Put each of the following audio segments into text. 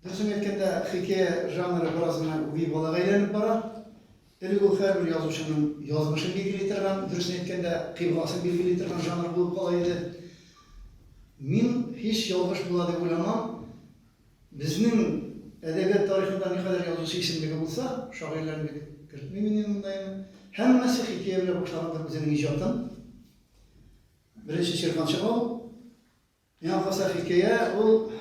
Дөресен әйткәндә, хикәя жанры бераз гына үги балага әйләнеп бара. Элек ул һәрбер язучының язмышын билгели торган, дөресен әйткәндә, кыйбласын билгели торган жанр булып кала иде. Мин һич ялгыш була дип уйламам. Безнең әдәбият тарихында никадәр язучы исемлеге булса, шагыйрьләрне бит кертмим мин монда инде. Һәммәсе хикәя белән башлагандыр үзенең иҗатын. Беренче Чирман Чабау, Миңа калса, хикәя ул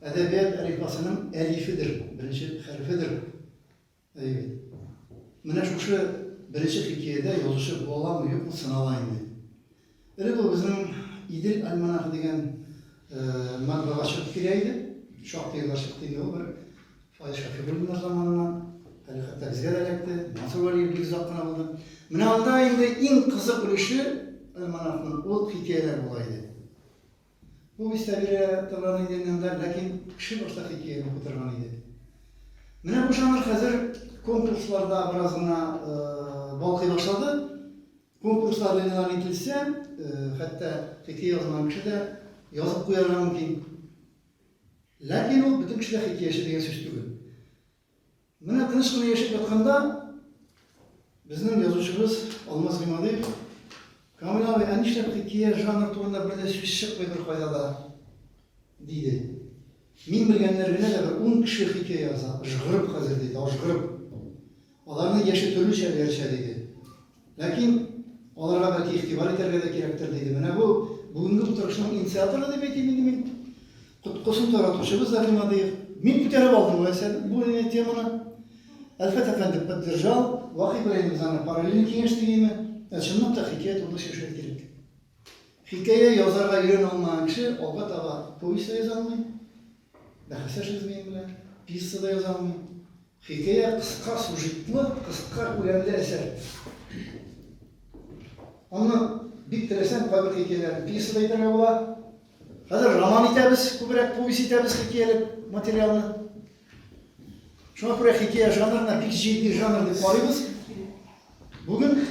әдәбият әлифбасының әлифедер, беренче хәрефедер. Әйе. Менә шушы беренче хикәядә язучы буламы, юкмы сынала инде. Элек ул безнең Идел альманахы дигән матбага чыгып килә иде. Шактый еллар чыкты инде ул бер Фаил Шәфигуллиннар заманыннан, әле хәтта безгә дә эләкте, Мансур Вәлиев бик озак кына булды. Менә анда инде иң кызык өлеше альманахның ул хикәяләр була иде. Повестьта бирә торган иде инде, ләкин кеше башта хикәя укып торган иде. Менә бу жанр хәзер конкурсларда бераз гына э, балкый башлады. Конкурслар эленалар ителсә, э, хәтта хикәя язган кеше дә язып куярга мөмкин. Ләкин ул бөтен кешедә хикәяче дигән сүз түгел. Менә тыныч кына яшәп ятканда безнең язучыбыз Алмаз Гыймадиев Камил абый, ә нишләп хикәя жанр турында бер дә сүз чыкмый бер кайда да? диде. Мин белгәннәр генә дә бер ун кеше хикәя яза, жгырып хәзер диде, ажгырып. Аларның яше төрлечә өерчә, диде. Ләкин аларга бәлки игътибар итәргә дә кирәктер, диде. Менә бу бүгенге утырышның инициаторы дип әйтим инде мин. Коткысын таратучыбыз да Гыймадиев. Мин күтәреп алдым бу әсәрне, бу әнә теманы. Әлфәт әфәнде поддержал. Вак Ибраһимов аны параллель киңәш дигәйме? Ә чынлап та хикәя турында сөйләшергә кирәк. Хикәя язарга өйрәнә алмаган кеше алга таба повесть та яза алмый. Бәхәсләшегез минем белән, пьеса да яза алмыйм. Хикәя кыска сюжетлы, кыска күләмле әсәр. Аны бик теләсәң, кайбер хикәяләрне пьеса да итәргә була. Хәзер роман итәбез, күбрәк повесть итәбез хикәяле материалны. Шуңа күрә хикәя жанрына бик җитди жанр дип карыйбыз. Бүген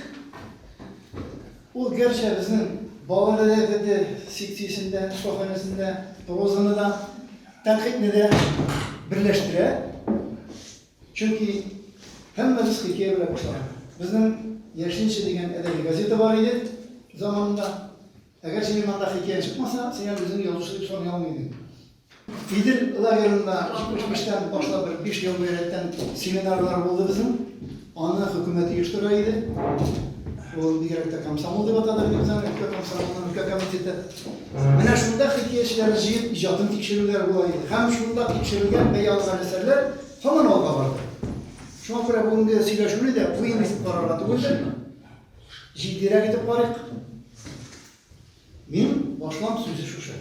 ул гәрчә безнең балалар әдәбияты секциясендә, шифаханәсендә прозаны да, тәнкыйтьне дә берләштерә. Чөнки һәммәбез хикәя белән башлаган. Безнең Яшелчә дигән әдәби газета бар иде заманында. Әгәр синең анда хикәяң чыкмаса, син әле үзеңне язучы дип саный алмый идең. Идел лагерында 75-тән башлап бер 5 ел рәттән семинарлар булды безнең. Аны хөкүмәт оештыра иде. Ул бигрәк тә комсомол дип атады бит аны, өлкә комсомолының өлкә комитеты. Менә шунда хикәячеләр җыеп иҗатын тикшерүләр була иде. Һәм шунда тикшерелгән бәя алган әсәрләр һаман алга барды. Шуңа күрә бүгенге сөйләшүне дә бу инде карарга түгелдер. Җитдирәк итеп карыйк. Мин башлам сүзе шушы.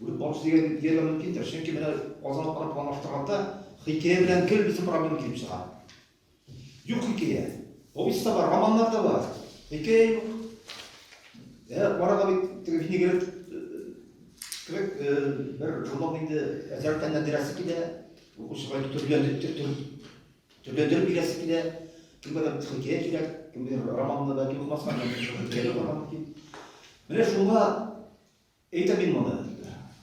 Бүген барысы дигән дияргә мөмкиндер, чөнки менә Казан алып барып планлаштырганда хикәя белән гел безнең проблема килеп чыга. Юк хикәя. Повесть та бар, романнар да бар. Хикәя юк. Ә арага бит теге винегрет кебек бер журнал инде әзрәк фәннән бирәсе килә, укучыга төрләндереп бирәсе килә. Кемгәдер хикәя кирәк, кемгәдер романны бәлки укымаска, кемгәдер хикәя укырга мөмкин. Менә шуңа Әйтәм мин моны.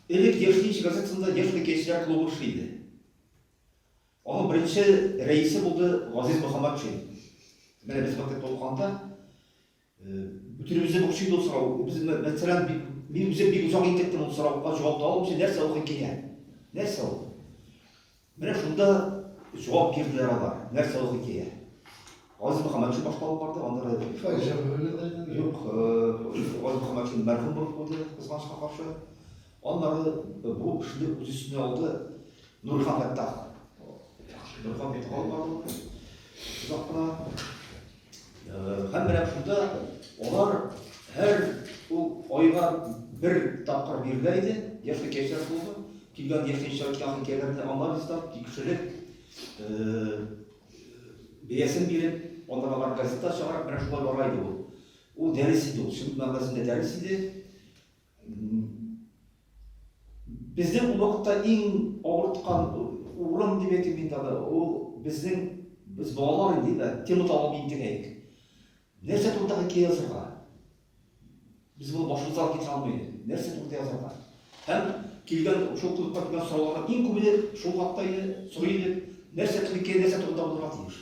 Элек Яшьлек газетасында Яшьлек яшьләр клубы эшли иде. Аның беренче рәисе булды Газиз Мөхәммәтшин. Менә без мәктәптә укыганда бөтенебезне борчый иде ул сорау. Без, мәсәлән, бик мин үзем бик озак интектем ул сорауга җавап таба алмыйча, нәрсә укый килә? Нәрсә ул? Менә шунда җавап бирделәр алар. Нәрсә ул хикәя? Газиз Мөхәммәтшин башта алып барды, анда да әйтте. Файша Мөхәммәтшин. Юк, Газиз Мөхәммәтшин мәрхүм булып куйды, кызганычка каршы. Аннары бу эшне үз өстенә алды Нурхан Фәттах. Нурхан Фәттах алып барды. Озак кына Һәм менә шунда алар һәр ул айга бер тапкыр бирелә иде, я хикәячә клубы, килгән яшенчә хикәяләрне анализлап, тикшереп, бәясен биреп, аннан алар газета чыгарып, менә шулай бара иде ул. Ул дәрес иде ул, чын мәгънәсендә дәрес иде. Безнең ул вакытта иң авырткан урын дип әйтим мин тагы, ул безнең, без балалар инде инде, тема табып интегәек. Нәрсә турында хикәя язырга? Без моны башыбыздан китә алмый идек. Нәрсә турында язарга? Һәм килгән шул клубка килгән сорауларга иң күбе шул хакта иде, сорый идек. Нәрсә хикәя, нәрсә турында булырга тиеш?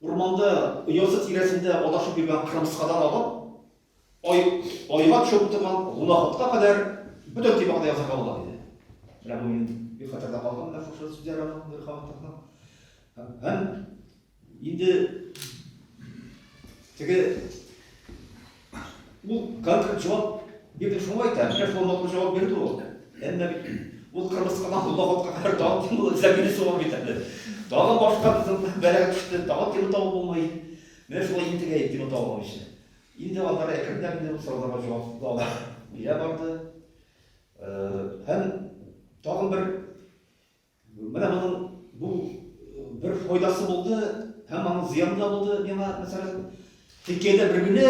Урманда оясы тирәсендә адашып йөргән кырмыскадан алып, айга төшеп утырган гөнаһотка кадәр бөтен темага да язарга була, диде. Менә бу минем бик хәтердә калган менә шушы сүзләр аның Нурихановның. Һәм инде теге Ул конкрет җавап бирде шуңа әйтә, менә шул матур җавап бирде ул. Әмма бит ул кырмыскадан худа хатка кадәр тагын кем булды, зәбине сорап бетерде. Тагын башка безнең бәрәк төште, тагын тема табып булмый. Менә шулай интегә тема табып алмыйча. Инде алар әкренләп инде сорауларга җавап таба бирә барды. Һәм тагын бер Менә моның бу бер файдасы булды, һәм аның зыяны да булды. Миңа, мәсәлән, хикәядә бер генә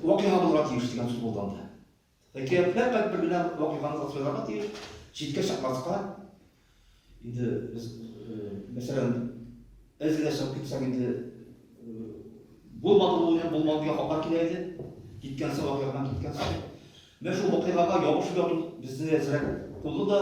вакыйга булырга тиеш дигән сүз булды анда. Хикәя фәкать бер генә вакыйганы тасвирларга тиеш, читкә чыкмаска. Инде без, мәсәлән, әз генә чыгып китсәк инде булмады бу, булмады дигән хатар килә иде. Киткән соң вакыйгадан киткән соң. Менә шул вакыйгага ябышып яту безне әзрәк булды да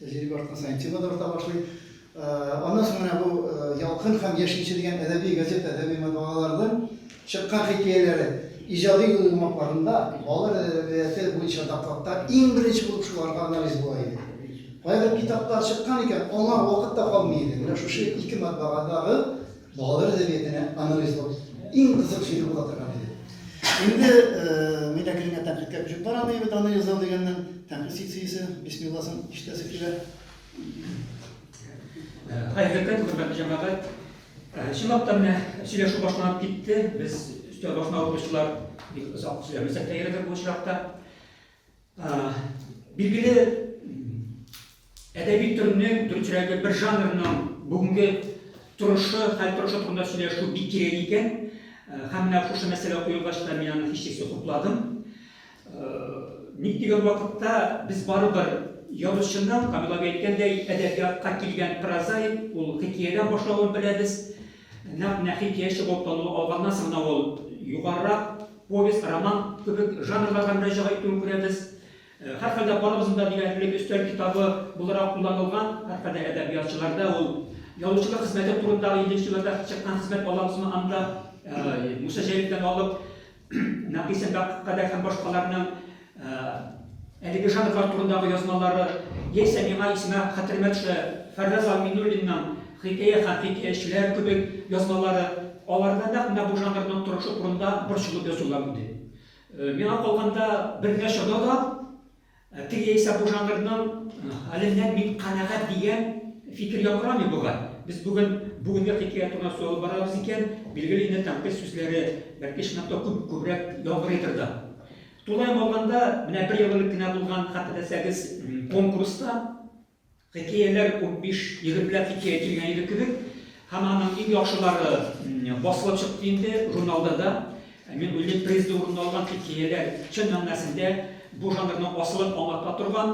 Тәҗрибә арткан саен тема да арта башлый. Аннан соң менә бу Ялкын һәм Яшелчә дигән әдәби газета, әдәби матбагалардан чыккан хикәяләре иҗади юлламаларында балалар әдәбияты буенча докладта иң беренче булып шуларга анализ була иде. Кайбер китаплар чыккан икән, аңа вакыт та калмый иде. Менә шушы ике матбагадагы Балалар әдәбиятенә анализлау иң кызык җире була торган иде. Инде мин әкренләп тәнкыйтькә күчеп барам, ди бит анализлау дигәннән, тәнкыйть секциясе бисмилласын ишетәсе килә. Хәкыйкать, хөрмәтле җәмәгать, чынлап та менә сөйләшү башланып китте. Без өстәл башына утыручылар бик озак сөйләмәсәк тә ярыйдыр бу очракта. Билгеле, әдәби төрнең, дөресрәге, бер жанрның бүгенге торышы, хәл торышы турында сөйләшү бик кирәк икән. Һәм менә шушы мәсьәлә куелгач та мин аны һичшиксез хупладым. Ник дигән вакытта без барыбер язучының, Камил әби әйткәндәй, әдәбиятка килгән прозаик, ул хикәядән башлавын беләбез. Нәкъ Нәхи тияче булып тану алганнан соң гына ул югарырак повесть, роман кебек жанрларга мөрәҗәгать итүен күрәбез. Һәрхәлдә, барыбызның да диярлек өстәл китабы буларак кулланылган, һәрхәлдә, әдәбиятчыларда ул язучылык хезмәте турындагы, илле нче елларда чыккан хезмәт алабызмы анда, Муса Җәлилдән алып, Нәкыйсә Бәккадәр һәм башкаларның әлеге жанрлар турындагы язмалары, яисә миңа исемә, хәтеремә төшә, Фәрраз Алминуллинның Хикәя һәм хикәячеләр кебек язмалары, аларда нәкъ менә бу жанрның торышы турында борчылып язулар иде. Миңа калганда, бер нәрсә дада, Ә теге яисә бу жанрның хәленнән мин канәгать дигән фикер яңгырамый бугай. Без бүген бүгенге хикәя турына сүз алып барабыз икән, билгеле инде тәнкыйть сүзләре, бәлки, чынлап та күп, күбрәк яңгырыйдыр да. Тулаем алганда, менә бер ел элек кенә булган, хәтерләсәгез, конкурста, Хикәяләр ут биш егетләр хикәя килгән иде кебек һәм аның иң яхшылары басылып чыкты инде журналда да. Мин уйлыйм, призда урын алган хикәяләр чын мәгънәсендә бу жанрның асылын аңлата торган,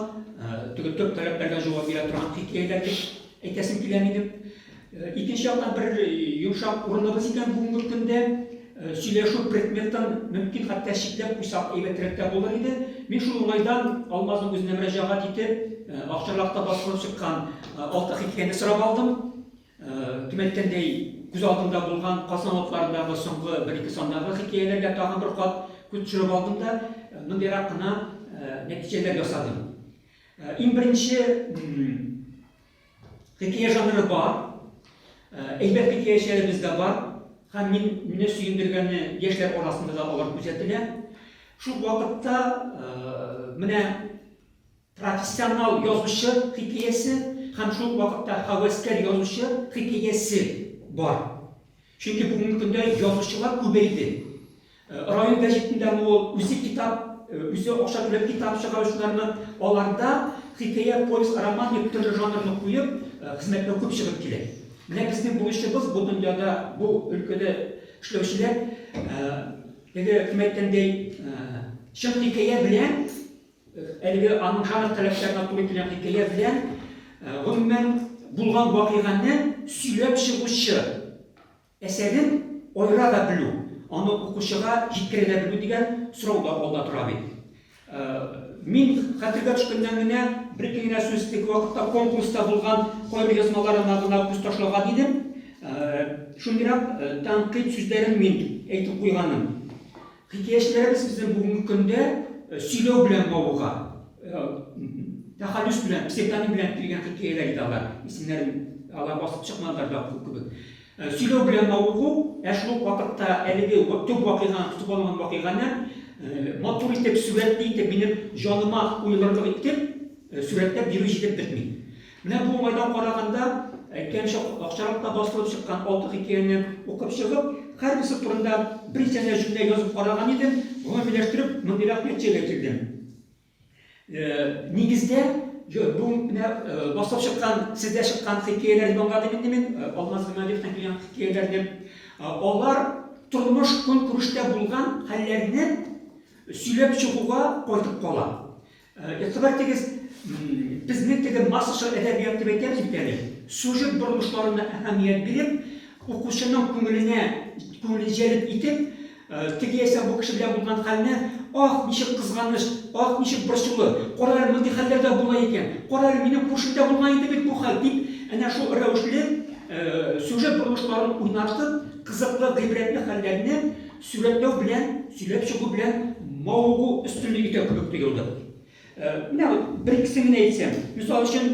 теге төп таләпләргә җавап бирә торган хикәяләр дип әйтәсем килә минем. Икенче яктан бер йомшак урыныбыз икән бүгенге көндә. Сөйләшү предметын мөмкин хәтта чикләп куйсак әйбәтрәк тә булыр иде. Мин шул уңайдан Алмазның үзенә мөрәҗәгать итеп, акчарлакта басылып чыккан Алты хикәяне сорап алдым. Кем әйткәндәй, күз алдымда булган Казан алыпларындагы соңгы бер-ике сандагы хикәяләргә тагын бер кат күз төшереп алдым да, мондыйрак кына нәтиҗәләр ясадым. Иң беренче Хикәя жанры бар, әйбәт хикәячеләребез дә бар һәм мин, мине сөендергәне, яшьләр арасында да алар күзәтелә. Шул ук вакытта менә профессионал язучы хикәясе һәм шул ук вакытта хәвәскәр язучы хикәясе бар. Чөнки бүгенге көндә язучылар күбәйде. Район гәҗитендәме ул, үзе китап, үзе акча түләп китап чыгаручылармы, аларда хикәя, повесть, роман дип төрле жанрны куеп, хезмәтләр күп чыгып килә. Менә безнең бурычыбыз бу дөньяда бу өлкәдә эшләүчеләр, теге кем әйткәндәй, чын хикәя белән, әлеге аның жанр таләпләренә туры килгән хикәя белән, гомумән, булган вакыйганы сөйләп чыгучы, Әсәрен аера да белү, аны укучыга җиткерә дә белү дигән сорау да алда тора бит. Мин хәтергә төшкәннән генә бер-ике генә сүз теге вакытта конкурста булган каеръязмаларына гына күз ташлаган идем. Шундыйрак тәнкыйть сүзләрен мин әйтеп куйганым. Хикәячеләребез безне бүгенге көндә сөйләү белән мавыга. Тәхәллүс белән, псевдоним белән килгән хикәяләр иде алар. Исемнәрен алар басып чыкмадылар да укыту кебек. Сөйләү белән мавыгу, ә шул ук вакытта әлеге төп вакыйганы, көтеп алынган вакыйганы матур итеп, сурәтле итеп, минем җаныма уелырлык итеп сурәтләп бирү җитеп бетми. Менә бу уңайдан караганда, әйткәнемчә, акчарак та басылып чыккан алты хикәяне укып чыгып, һәрберсе турында бер сәнә җөмлә язып караган идем, гомумиләштереп, мондыйрак нәтиҗәгә килдем. Нигездә, бу менә басылып чыккан, сездә чыккан хикәяләрне аңладым инде мин, Алмаз Гыймадиевтан килгән хикәяләрне. Алар тормыш-көнкүрештә булган хәлләрне сөйләп чыгуга кайтып кала. Игътибар итегез, безнең теге массачыл әдәбият дип әйтәбез бит әле, сюжет борылышларына әһәмият биреп, укучының күңеленә, күңелен җәлеп итеп, теге яисә бу кеше белән булган хәлне, Аһ, ничек кызганыч, аһ, ничек борчулы, кара әле, мондый хәлләр дә була икән, кара әле, минем күршемдә булган иде бит бу хәл, дип, әнә шул рәвешле сюжет борылышларын уйнартып, кызыклы, гыйбрәтле хәлләрне Сурәтләү белән, сөйләп чыгу белән мавыгу өстенлек итә кебек тоелды. Э, менә бер икесен генә әйтсәм, мисал өчен,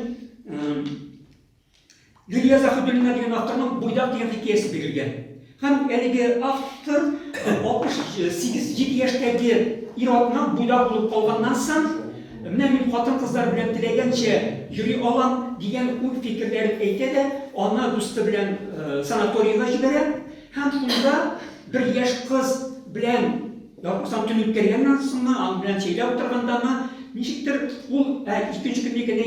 Лилия Заһидуллина дигән авторның Буйдак дигән хикәясе бирелгән. Һәм әлеге автор 68-7 яшьтәге ир-атның буйдак булып калганнан соң, менә мин хатын-кызлар белән теләгәнчә йөри алам дигән уй-фикерләрен әйтә дә, аны дусты белән санаторийга җибәрә. Һәм шунда бер яшь кыз белән, язмасам, төн үткәргәннән соңмы, аның белән чәйләп утыргандамы, ничектер ул икенче көнне генә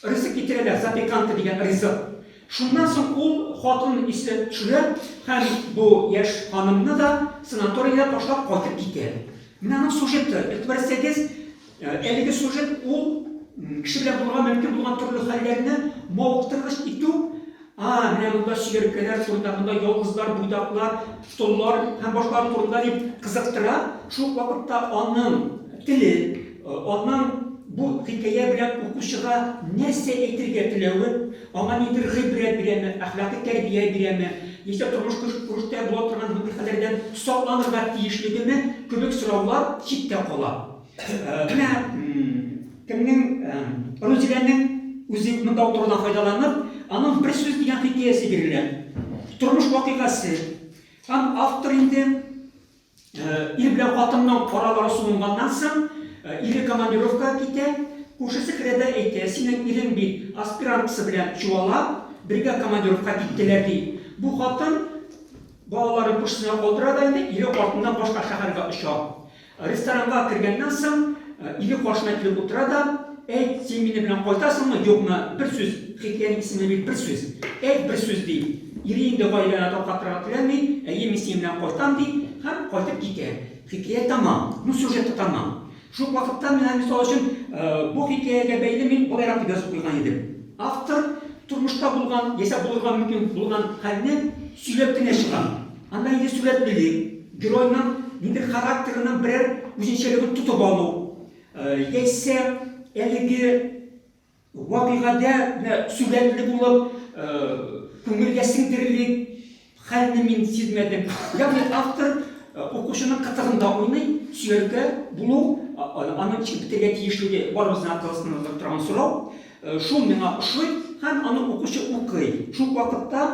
ризык китерәләр, запеканка дигән ризык. Шуннан соң ул хатын исенә төшерә һәм бу яшь ханымны да санаторийда ташлап кайтып китә. Менә аның сюжеты, игътибар итсәгез. Әлеге сюжет ул кеше белән булырга мөмкин булган төрле хәлләрне мавыктыргыч итү, а, менә монда чикерткәләр, шурдагында ялгызлар, буйдаклар, соллар һәм башкалар турында дип кызыктыра. Шул ук вакытта аның теле, аның бу хикәя белән укучыга нәрсә әйтергә теләве, аңа нидер гыйбрәт бирәме, әхлакый тәрбия бирәме, яисә тормыш-көнкүрештә була торган мондый хәлләрдән сакланырга тиешлегеме кебек сораулар читтә кала. Менә кемнең Рузиләнең үзе юк монда утырудан файдаланып, аның бер сүз дигән хикәясе бирелә. Тормыш вакыйгасы. Һәм автор инде ир белән хатынның аралары суынганнан соң, ире командировкага китә, күршесе керәдә әйтә, синең ирең бит аспиранткасы белән чуала, бергә командировка киттеләр, ди. Бу хатын балаларын күршесенә калдыра да инде ире артыннан башка шәһәргә оча. Ресторанга кергәннән соң, ире каршына килеп утыра да, Әйт, син мине белән кайтасыңмы, юкмы? Бер сүз! Хикәянең исеме бит Бер сүз! Әйт, бер сүз! ди. Ире инде гаиләне таркатырга теләми, Әйе, мин синең белән кайтам, ди һәм кайтып китә. Хикәя тәмам. Ну, сюжет та тәмам. Шул ук вакытта менә, мисал өчен, бу хикәягә бәйле мин болайрак дип язып куйган идем. Автор тормышта булган, яисә булырга мөмкин булган хәлне сөйләп кенә чыга. Анда инде сурәт били, геройның инде характерының берәр үзенчәлеген тотып алу, яисә әлеге вакыйгада сурәтле булып күңелгә сеңдерелик хәлне мин сизмәдем. Ягъни автор укучының кытыгында уйный, сөяркә булу, аның эчен бетергә тиешлеге барыбызның акылыбызда торган сорау. Шул миңа ошый һәм аны укучы укый. Шул ук вакытта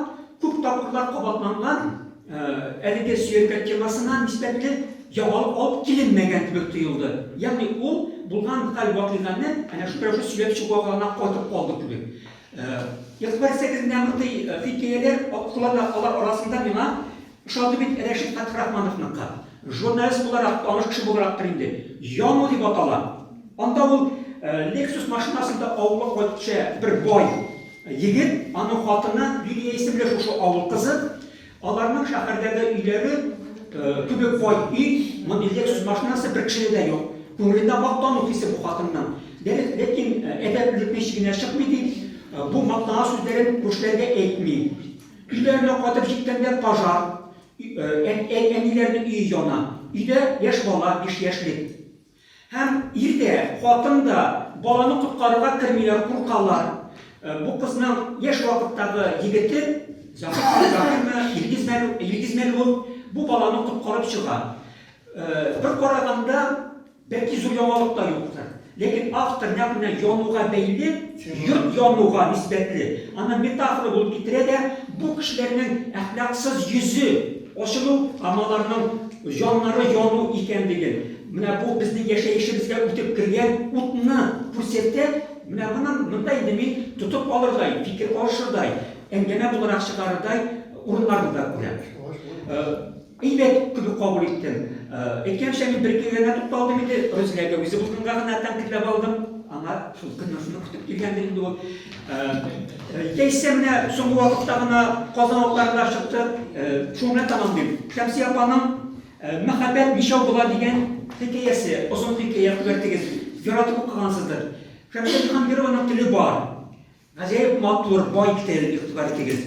күп тапкырлар кабатланган әлеге сөялгән темасына нисбәтле яңалык алып киленмәгән кебек тоелды. Ягъни ул булган хәл вакыйганы әнә шул рәвешле сөйләп чыгуга гына кайтып калды кебек. Игътибар итсәгез, менә мондый хикәяләр куллана, алар арасында миңа Ошады бит Рәшит Фәтхерахмановныкы. Журналист буларак, таныш кеше буларактыр инде. Яну дип атала. Анда ул Lexus машинасында авылга кайтучы бер бай егет, аның хатыны Лилия исемле шушы авыл кызы. Аларның шәһәрдәге өйләре кебек бай өй, мондый Lexus машинасы бер кешедә дә юк. Күңелендә мактану хисе бу хатынның. Дөрес, ләкин әдәплелекнең чигенә чыкмый, ди. Бу мактана сүзләрен күршеләргә әйтми. Өйләренә кайтып җиткәндә пожар, әниләрнең өе яна. Өйдә яшь бала, биш яшьлек. Һәм ир дә, хатын да баланы коткарырга кермиләр, куркалар. Бу кызның яшь вакыттагы егете, Закирмы, Закирмы, Илгизмәлү, Илгизмәлү бу баланы коткарып чыга. Бер караганда, Бәлки зур яңалык та юктыр. Ләкин автор нәкъ менә януга бәйле, йорт януга нисбәтле, аны метафора булып китерә дә, бу кешеләрнең әхлаксыз йөзе ачылу һәм аларның җаннары яну икәнлеген, менә бу безнең яшәешебезгә үтеп кергән утны күрсәтә, менә моны монда инде мин тотып алырдай, фикер алышырдай, әңгәмә буларак чыгарырдай урыннарны да күрәм. Әйбәт кебек кабул иттем. Әйткәнемчә, мин бер-ике генә тукталдым инде, Рузиләгә үзе булганга гына тәнкыйтьләп алдым. Аңа шул көннән шуны көтеп килгәндер инде ул. Яисә менә соңгы вакытта гына Казан утларында чыкты, шуны белән тәмамлыйм. Шәмсия апаның Мәхәббәт ничәү була дигән хикәясе, озын хикәя, күрәтегез, яратып укыгансыздыр. Шәмсия Җиһангированың теле бар. Гаҗәеп матур, бай тел, игътибар итегез.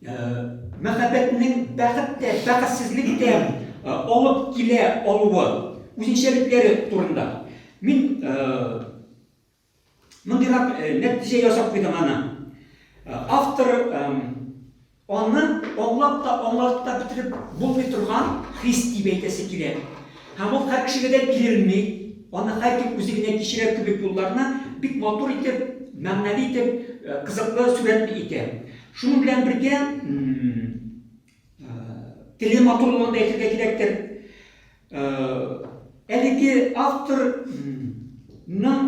Мәхәббәтнең бәхет тә, бәхетсезлек тә алып килә алуы, үзенчәлекләре турында. Мин мондыйрак нәтиҗә ясап куйдым аны. Автор аны аңлап та, аңлатып та бетереп булмый торган хис дип әйтәсе килә. Һәм ул һәр кешегә дә бирелми. Аны һәркем үзе генә кичерә кебек юлларны бик матур итеп, мәгънәле итеп, кызыклы сурәтле итә. Шуның белән бергә, теле матурлыгын да әйтергә кирәктер. Әлеге автор ның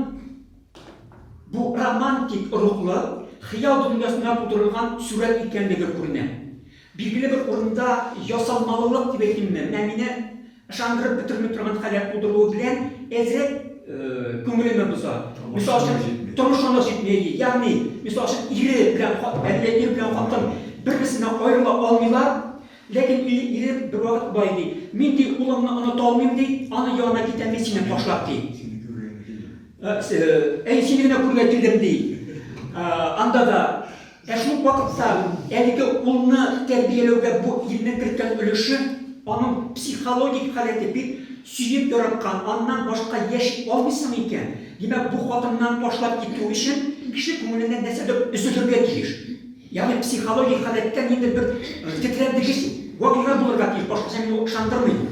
бу романтик рухлы, хыял дөньясында тудырылган сурәт икәнлеге күренә. Билгеле бер урында ясалмалылык дип әйтимме, менә мине Ышандырып бетерми торган халәт тудыруы белән әзрәк күңелемә боза. Мисал өчен, тормышына җитми. Ягъни, мисал өчен, ире белән әле ир белән хатын бер-берсеннән аерыла алмыйлар, ләкин ире бервакыт болай ди, Мин ди улымны оныта алмыйм ди, аның янына китәм мин сине ташлап ди. Әй, сине генә күрергә килдем ди. Анда да Ә шул ук вакытта әлеге улны тәрбияләүдә бу илнең керткән өлеше, аның психологик халәте бит, сөеп яраткан, аннан башка яши алмыйсың икән, димәк, бу хатыннан ташлап китү өчен кеше күңеленнән нәрсәдер өзелергә тиеш. Ягъни психологик халәттә ниндидер бер тетрәндегеч вакыйга булырга тиеш, башкача мин ул ышандырмыйм.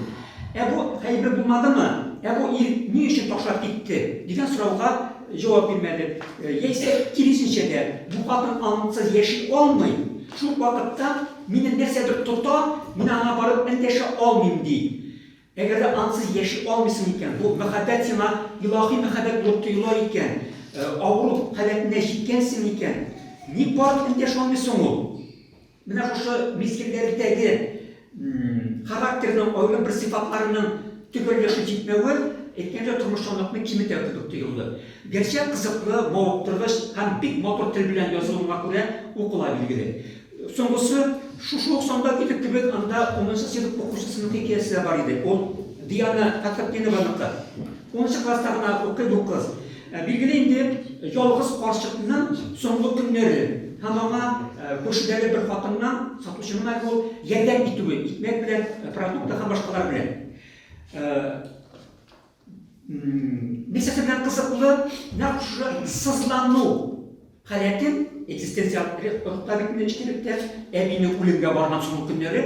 Ә бу хәйбер булмадымы? Ә бу ир ни өчен ташлап китте? дигән сорауга җавап бирмәде. Яисә, киресенчә дә, бу хатын аңсыз яши алмый, шул ук вакытта мине нәрсәдер тота, мин аңа барып эндәшә алмыйм, ди. Әгәр дә аңсыз яши алмыйсың икән, бу мәхәббәт сиңа илаһи мәхәббәт булып тоела икән, авыру халәтенә җиткәнсең икән, ник барып эндәшә алмый соң ул? Менә шушы мизгелләрдәге характерның аерым бер сыйфатларының төгәл яши җитмәве, әйткәндәй, тормышчанлыкны киметә кебек тоелды. Гәрчә кызыклы, мавыктыргыч һәм бик матур тел белән язылуына күрә укыла, билгеле. Соңгысы, шушы ук санда көтү кебек, анда унынчы сыйныф укучысының хикәясе дә бар иде. Ул Диана Фәтхетдинованыкы. Унынчы класста гына укый бу кыз. Ә, билгеле инде, ялгыз карчыкның соңгы көннәре һәм аңа ә, күршедәге бер хатыннан, сатучының әле ул, ярдәм итүе, икмәк белән, продукты һәм башкалар белән. Ә, мисс белән кызыклы нәкъ шушы сызлану халәтен экзистенциаль рухта бит мин эчкилектә әбине үлемгә барган соңгы көннәре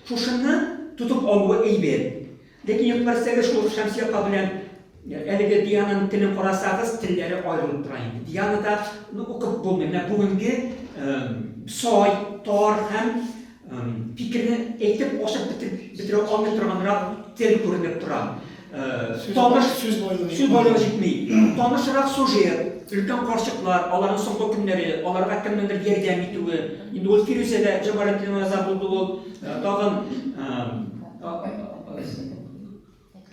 шушыны тотып алуы әйбәт. Ләкин юк берсеге шул Шәмси апа белән әлеге Диананың телен карасагыз, телләре аерылып тора инде. Дианада ну, укып булмый. Менә бүгенге сай, тар һәм фикерне әйтеп ашып бетереп бетерә алмый торганрак тел күренеп тора. Таныш сүз байлыгы сүз байлыгы җитми. Танышрак сюжет, өлкән карчыклар, аларның соңгы көннәре, аларга кемнеңдер ярдәм итүе. Инде ул Фирүзәгә Җамалетдинова риза булды ул, тагын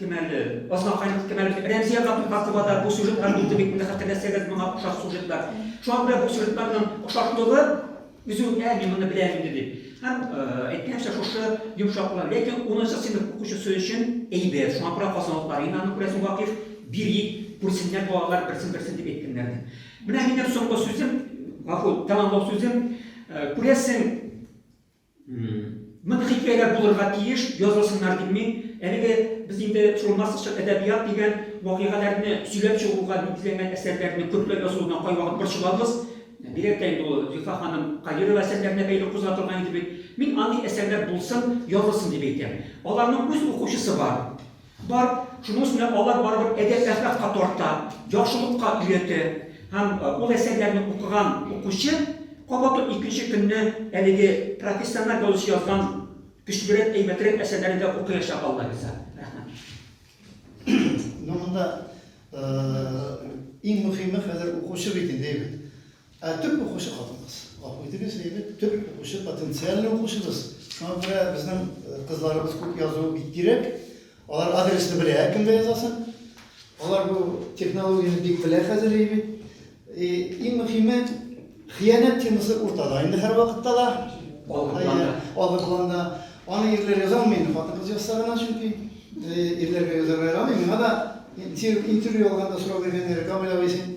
Кем әле? Басмакай кем әле? Рәмзия Габдулхакова да бу сюжетлар булды бит, инде хәтерләсәгез, моңа охшаш сюжетлар. Шуңа күрә бу сюжетларның охшашлыгы үзе үк әни моны белә инде дип. Һәм әйткәнчә шушы йомшаклар, ләкин 10 сыйныф укучысы өчен әйбәт. Шуңа күрә казанлыклар инде аны күрәсең вакыйф бирик, күрсеннәр балалар берсен-берсен дип әйткәннәр ди. Менә минем соңгы сүзем, гафу, тәмамлау сүзем, күрәсең, Мондый хикәяләр булырга тиеш, язылсыннар дим мин. Әлеге без инде шул массачыл әдәбият дигән вакыйгаларны сөйләп чыгуга нигезләнгән әсәрләрне күпләп язуына кайвакыт борчылабыз. Бигрәк тә инде ул Зифа ханым Каирова әсәрләренә бәйле кузгатылган иде бит. Мин андый әсәрләр булсын, язылсын дип әйтәм. Аларның үз укучысы бар. Бар, шуның өстенә алар барыбер әдәп-әхлакка тарта, яхшылыкка өйрәтә. Һәм ул әсәрләрне укыган укучы кабат ук икенче көнне әлеге профессиональ язучы язган көчлерәк, әйбәтрәк әсәрләрне дә укыячак, Алла риза. Рәхмәт. Ну, монда иң мөхиме хәзер укучы бит инде, әйбәт. Ә төп укучы хатын-кыз. Гафу итегез, әйбе, төп укучы потенциальный укучыбыз. Шуңа күрә безнең э, кызларыбыз күп язуы бик кирәк. Алар адресны белә, кемгә язасын. Алар бу технологияне бик белә хәзер әйбе. И, иң мөхиме, хыянәт темасы уртада инде һәр вакытта да. Алгы планда. Алгы планда. Аны ирләр яза алмый инде, хатын-кыз язса гына, чөнки э, ирләргә язарга ярамый. Миңа да интервью алганда сорау биргәннәр, Камил абый, син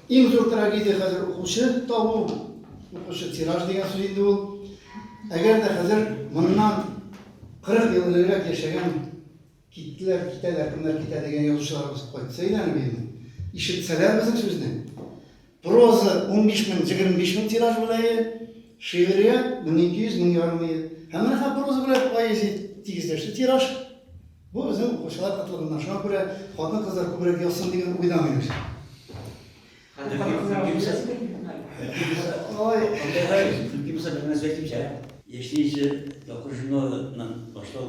Иң зур трагедия хәзер укучы табу, укучы тираж дигән сүз инде ул. Әгәр дә хәзер моннан 40 ел элегрәк яшәгән киттеләр, китәләр, кемнәр китә дигән язучыларыбыз кайтса иде әле инде. Ишетсәләр безнең сүзне. Проза 15 мең, 25 мең тираж беләе, шигърият 1200 мең ярым ел. Һәм менә проза белән поэзия тигезләште тираж. Бу безнең укучылар кытлыгыннан. Шуңа күрә хатын-кызлар күбрәк язсын дигән уйда миләүшә. Яшьли җыр тапкыр журналыннан башлау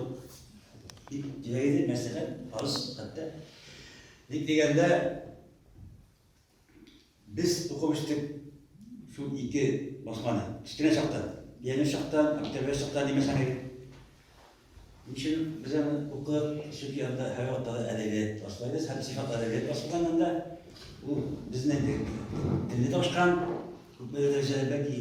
бик кирәк иде, мәсәлән, фарыз хәтта. Ник дигәндә, Без укып үстек шул ике басманы. Кечкенә чакта, пионер чакта, октябрь чакта димәсәң әле. Ничем без аны укып, сүп янында һәр вакытта да әдәбият башлайбыз һәм сыйфат әдәбият башланган анда. Ул безнең телне ташкан, күпме дәрәҗәдә бәлки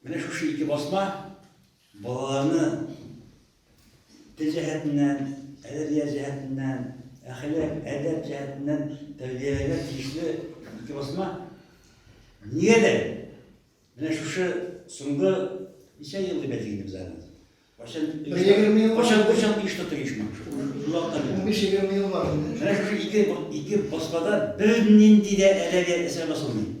Менә шушы ике басма балаларны тел җәһәтеннән, әдәбият җәһәтеннән, әхлак, әдәп җәһәтеннән тәрбияләргә тиешле ике басма. Нигә дә? Менә шушы соңгы ничә ел дип әйтик инде без аны. Кайчан кайчан кайчан еш та тыйышмак. Менә шушы ике ике басмада бернинди дә әдәбият әсәр басылмый.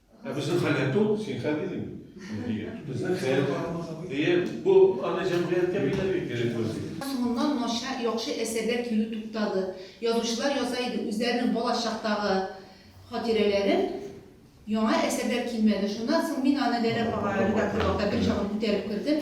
Ә безнең хәл әйтте ул, син хәл дидең. Безнең хәл. Әйе, бу аны җәмгыятькә бирергә кирәк вазифа. Соңыннан начар, яхшы әсәрләр килү туктады. Язучылар яза иде үзләренең балачактагы хатирәләрен, яңа әсәрләр килмәде. Шуннан соң мин аны Ләлә апага редакторлыкта берчакны күтәреп кердем.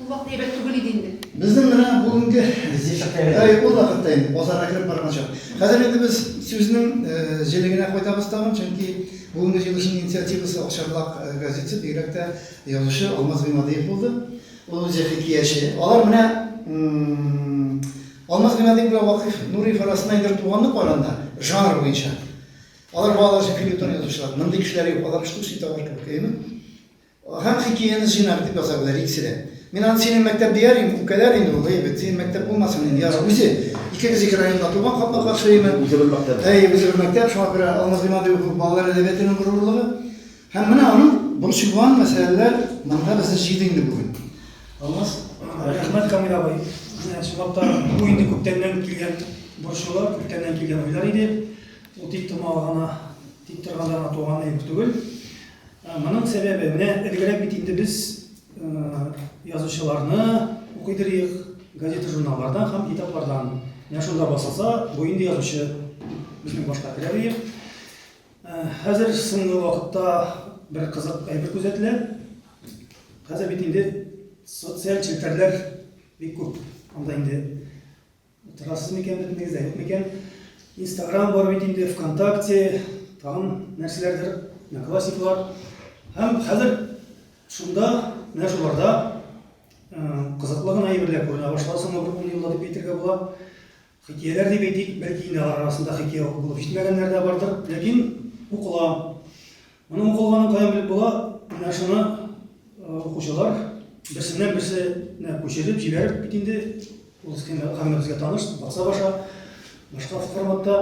Ул вакыт әйбәт түгел иде инде. Безнең менә бүгенге. Безнең чакта әйбәт. Әй, ул вакытта инде, базарга кереп барган чак. Хәзер инде без сүзнең җелегенә кайтабыз тагын, чөнки бүгенге җыелышның инициативасы Акчарлак газетасы, бигрәк тә язучы Алмаз Гыймадиев булды. Ул үзе хикияче. Алар менә Алмаз Гыймадиев белән Вакыйф Нуриев арасында инде туганлык бар анда, жанр буенча. Алар балалар өчен фельетон язучылар. Мондый кешеләр юк, алар штучный товар кебек, әйеме? Һәм хикияне җыйнак итеп ясадылар икесе дә. Мин аны синең мәктәп дияр идем, үпкәләр инде ул, әйбәт, синең мәктәп булмасын инде, ярар, үзе. Икегез ике районда туган, капма-каршы өеме? Үзе бер мәктәп. Әйе, үзе бер мәктәп, шуңа күрә Алмаз Гыймадыев ул балалар әдәбиятының горурлыгы. Һәм менә аның борчылган мәсьәләләр монда безне җыйды инде бүген. Алмаз. Рәхмәт, Камил абый. Менә чынлап та бу инде күптәннән килгән борчулар, күптәннән килгән уйлар иде. Ул тик томалгана, тик торганда гына туган әйбер түгел. Моның сәбәбе, менә элегрәк бит инде без язучыларны укыйдырыйк газета-журналлардан һәм китаплардан. Менә шунда басылса, бу инде язучы безнең башка керәбиек. Хәзер соңгы вакытта бер кызык әйбер күзәтелә. Хәзер бит инде социаль челтәрләр бик күп. Анда инде Утырасыз микән, бөтенегез дә юк микән? Инстаграм бар бит инде, ВКонтакте, тагын нәрсәләрдер, Одноклассниклар. Һәм хәзер шунда, менә шуларда кызыклы гына әйберләр күренә башлады, соңгы бер ун елда дип әйтергә була. Хикәяләр дип әйтик, бәлки инде алар арасында хикәя укып булып җитмәгәннәр дә бардыр, ләкин укыла. Моның укылганын каян белеп була? Менә шуны укучылар берсеннән берсенә күчереп, җибәреп бит инде ул схема һәммәбезгә таныш, баса баша, башка форматта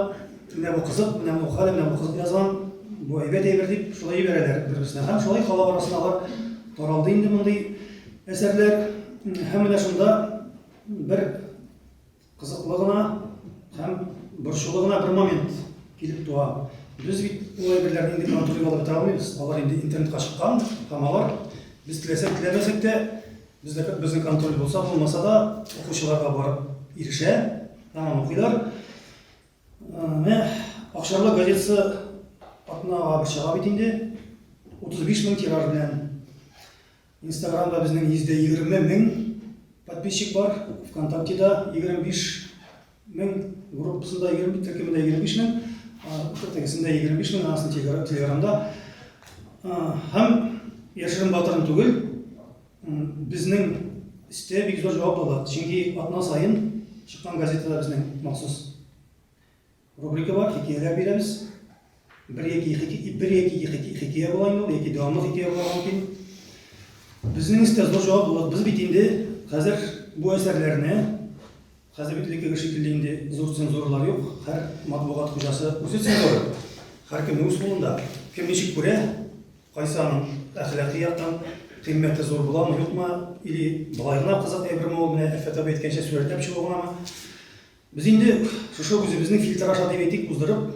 менә бу кызык, менә бу хәл, менә бу кызык язган, бу әйбәт әйбер дип шулай җибәрәләр бер-берсенә. Һәм шулай халык арасына алар таралды инде мондый әсәрләр. Һәм менә шунда бер Кызыклы гына һәм борчулы гына бер момент килеп туа. Без бит ул әйберләрне инде контроль алып бетә алмыйбыз. Алар инде интернетка чыккан һәм алар без теләсәк теләмәсәк тә бездә безнең контроль булса булмаса да укучыларга барып ирешә һәм укыйлар. Менә Акчарлы газетасы атнага бер чыга бит инде. 35 мең тираж белән Инстаграмда безнең 120 мең подписчик бар, ВКонтактеда 25 мең, группасында 20, төркемендә 25 мең, тегесендә 25 мең, асын телеграмда. Һәм яшерен батырын түгел, безнең истә бик зур җавап ала. Чөнки атна сайын чыккан газетада безнең махсус Рубрикалар, хикәяләр бирәбез. Бер яки ике, бер яки ике хикәя була инде, яки дәвамлы хикәя була мөмкин. Безнең истә зур җаваплылык. Без бит инде хәзер бу әсәрләрне хәзер бит элеккеге шикелле инде зур цензуралар юк. Һәр матбугат хуҗасы үзе цензура. Һәркемнең үз кулында. Кем ничек күрә, кайсы аның әхлакый яктан кыйммәте зур буламы, юкмы, или былай гына кызык әйберме ул, менә Әфәт абый әйткәнчә, сурәтләп чыгу гынамы. Без инде шушы үзебезнең фильтр аша дип әйтик, уздырып,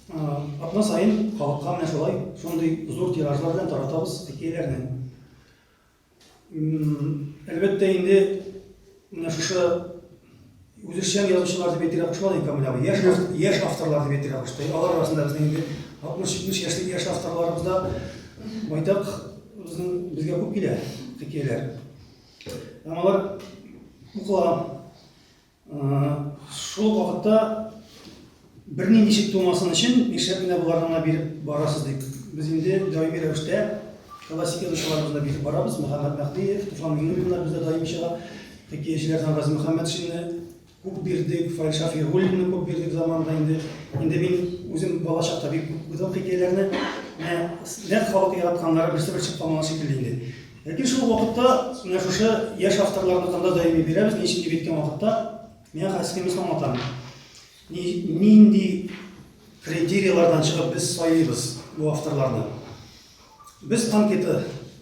атна саен халыкка менә шулай шундый зур тиражлар белән таратабыз хикәяләрне. Әлбәттә инде менә шушы үзешчән язучылар дип әйтергә кушмады Камил абый. Яшь, яшь авторлар дип әйтергә кушты. Алар арасында безнең инде 60-70 яшьлек яшь авторларыбыз да байтак безнең безгә күп килә хикәяләр. Һәм алар укыла. Шул ук вакытта бернинди шик тумасын өчен, нишләп менә боларны гына биреп барасыз дип. Без инде даими рәвештә классик язучыларыбызны да биреп барабыз. Мөхәммәт Мәһдиев, Туфан Миңнуллиннар бездә даими чыга. Хикәячеләрдән Гази Мөхәммәтшинны күп бирдек, Фаил Шафигуллинны күп бирдек заманында инде. Инде мин үзем бала чакта бик күп укыдым хикәяләрне. Менә нәкъ халык яратканнары берсе-бер чыкпамаган шикелле инде. Ләкин шул ук вакытта менә шушы яшь авторларныкын да даими бирәбез, ни өчен дип әйткән вакытта, миңа хәзер схемасын аңлатам. Ни, нинди критерияләрдән чыгып без сайлыйбыз бу авторларны? Без анкета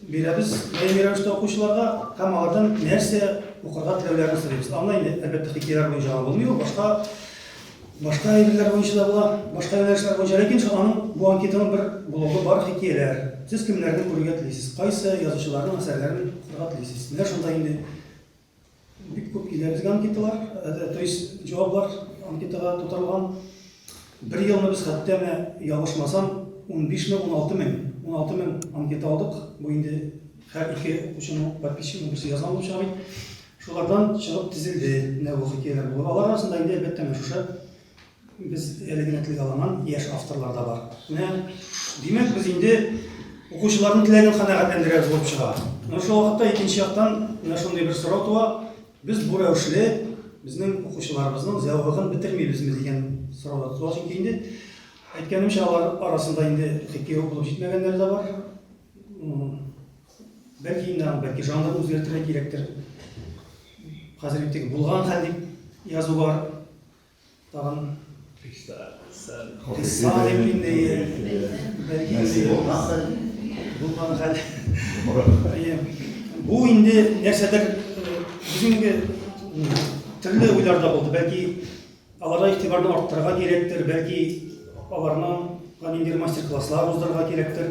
бирәбез даими рәвештә укучыларга һәм алардан нәрсә укырга теләүләрен сорыйбыз. Анда инде, әлбәттә, хикәяләр буенча гына булмый ул, башка Башка әйберләр буенча да була, башка юнәлешләр буенча, ләкин шул аның бу анкетаның бер блогы бар, хикәяләр. Сез кемнәрне күрергә телисез? Кайсы язучыларның әсәрләрен укырга телисез? Менә шунда инде бик күп килә безгә анкеталар, э, э, то есть җаваплар анкетага тутырылган. Бер елны без хәтта менә ялгышмасам 15 мең, 16 мең, 16 мең анкета алдык. Бу инде һәр ике укучының подписчигы берсе язган булып чыга бит. Шулардан чыгып тезелде менә бу хикәяләр булып. Алар арасында инде, әлбәттә, менә шушы без әле генә телгә алынган яшь авторлар да бар. Менә, димәк, без инде укучыларның теләген канәгатьләндерәбез булып чыга. Менә шул вакытта икенче яктан менә шундый бер сорау туа, без бу рәвешле безнең укучыларыбызның зәвыгын бетермибезме дигән сорау да туа. Чөнки инде әйткәнемчә, алар арасында инде хикәя укып җитмәгәннәр дә бар. Бәлки инде аны, бәлки жанрын үзгәртергә кирәктер. Хәзер бит теге булган хәл дип язу бар. Тагын Кыса дип инде бәлки инде булган хәл. Булган хәл. Әйе. Бу инде нәрсәдер бүгенге төрле уйлар да булды. Бәлки аларга игътибарны арттырырга кирәктер, бәлки аларның ниндидер мастер-класслар уздырырга кирәктер.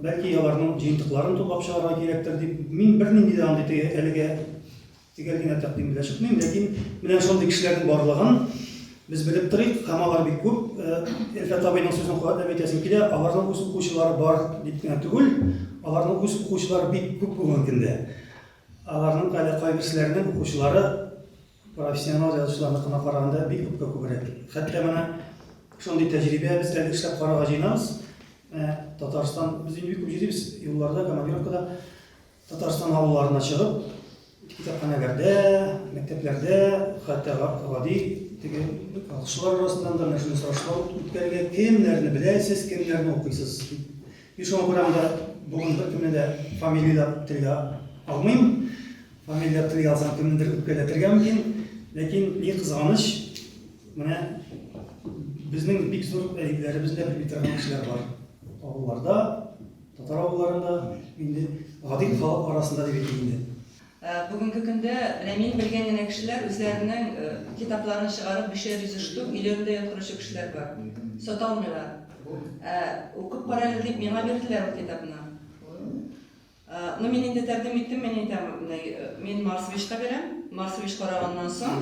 Бәлки аларның җыентыкларын туплап чыгарга кирәктер дип, мин бернинди дә андый әлегә төгәл генә тәкъдим белән чыкмыйм, ләкин менә шундый кешеләрнең барлыгын без белеп торыйк, һәм алар бик күп. Элфәт абыйның сүзен куәтләп әйтәсем килә, аларның үз укучылары бар дип кенә түгел, аларның үз укучылары бик күп бүгенге көндә. Аларның әле кайберсенең укучылары Профессионал язучыларныкына караганда бик күпкә күбрәк. Хәтта менә шундый тәҗрибә без әле эшләп карарга җыенабыз. Ә, Татарстан, без инде бик күп йөрибез, юлларда, командировкада, Татарстан авылларына чыгып, китапханәләрдә, мәктәпләрдә, хәтта гади теге укучылар арасыннан да менә шундый сорашлар үткәрергә, кемнәрне беләсез, кемнәрне укыйсыз дип. Мин шуңа күрә анда бүген беркемне дә фамилияләп телгә алмыйм. Фамилия туй алсаң, кемнедер үпкәләтергә мөмкин. Ләкин ни кызганыч, менә безнең бик зур әдипләребез дә белми торган кешеләр бар. Авылларда, татар авылларында, инде гади халык арасында дип әйтик инде. Ә, Бүгенге көндә менә мин белгән генә кешеләр үзләренең э, китапларын чыгарып бишәр йөз штук өйләрендә яткыручы кешеләр бар. Саталмыйлар. Ә, Укып карагыз дип миңа бирделәр ул китапны. Ну мин инде тәкъдим иттем, мин әйтәм, мин Марсовичка бирәм. Марсович караганнан соң,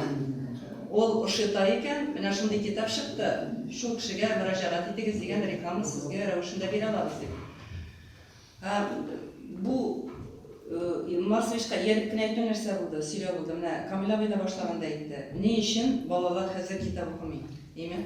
ул ошыта икән, менә шундый китап чыкты, шул кешегә мөрәҗәгать итегез дигән реклама сезгә рәвешендә бирә алабыз дип. Бу Марсовичка ияреп кенә әйтү нәрсә булды, сөйләү булды. Менә Камил абый да башлаганда әйтте. Ни өчен балалар хәзер китап укымый? Димәк,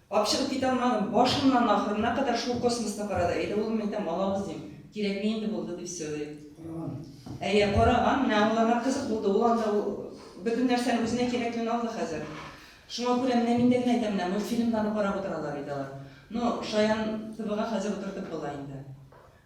Капчыгы китә алмадым, башыннан ахырына кадәр шул космосны карады. Әйдә, улым, әйтәм, алабыз, дим. Кирәкми инде булды, дип сөйли. Караган. Әйе, караган. Менә ул аңа кызык булды. Ул анда ул бөтен нәрсәне үзенә кирәклеген алды хәзер. Шуңа күрә менә мин дә генә әйтәм, менә мультфильмнарны карап утыралар иде алар. Ну, шаян ТВга хәзер утыртып була инде.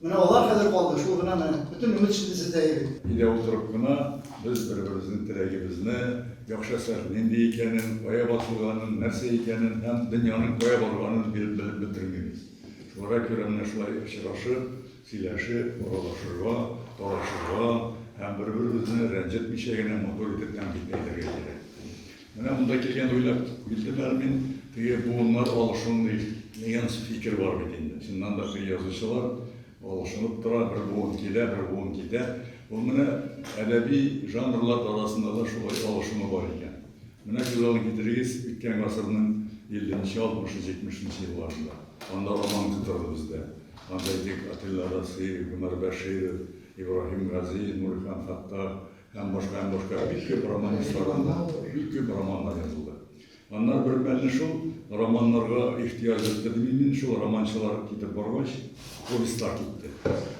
Менә алар хәзер калды, шул гына менә. Бөтен өмет шул бездә иде. Өйдә утырып кына без бер-беребезнең теләгебезне, яхшы әсәр нинди икәнен, кая басылганын, нәрсә икәнен һәм дөньяның кая барганын биреп белеп бетермибез. Шуларга күрә менә шулай очрашып, сөйләшеп, аралашырга, талашырга һәм бер-беребезне рәнҗетмичә генә матур итеп тәнкыйтьләнергә кирәк. Менә монда килгән уйлап килдем әле мин, теге буыннар алышынмый дигән фикер бар бит инде. Чыннан да теге язучылар алышынып тора, бер буын килә, бер буын китә. Ул менә әдәби жанрлар арасында да шулай алышыну бар икән. Менә күз алдына китерегез, үткән гасырның 50 нче, 60 нчы, 70 нчы елларында. Анда роман күп торды бездә. Анда әйтик, Атилла Расыйри, Гомәр Бәширов, Ибраһим Гази, Нурихан Хаттар, Һәм башка, һәм башка бик күп романистларның да бик күп романнар язылды. Аннары бермәлне шул романнарга ихтыяҗ итте мин, шул романчылар китеп баргач, повестьлар китте.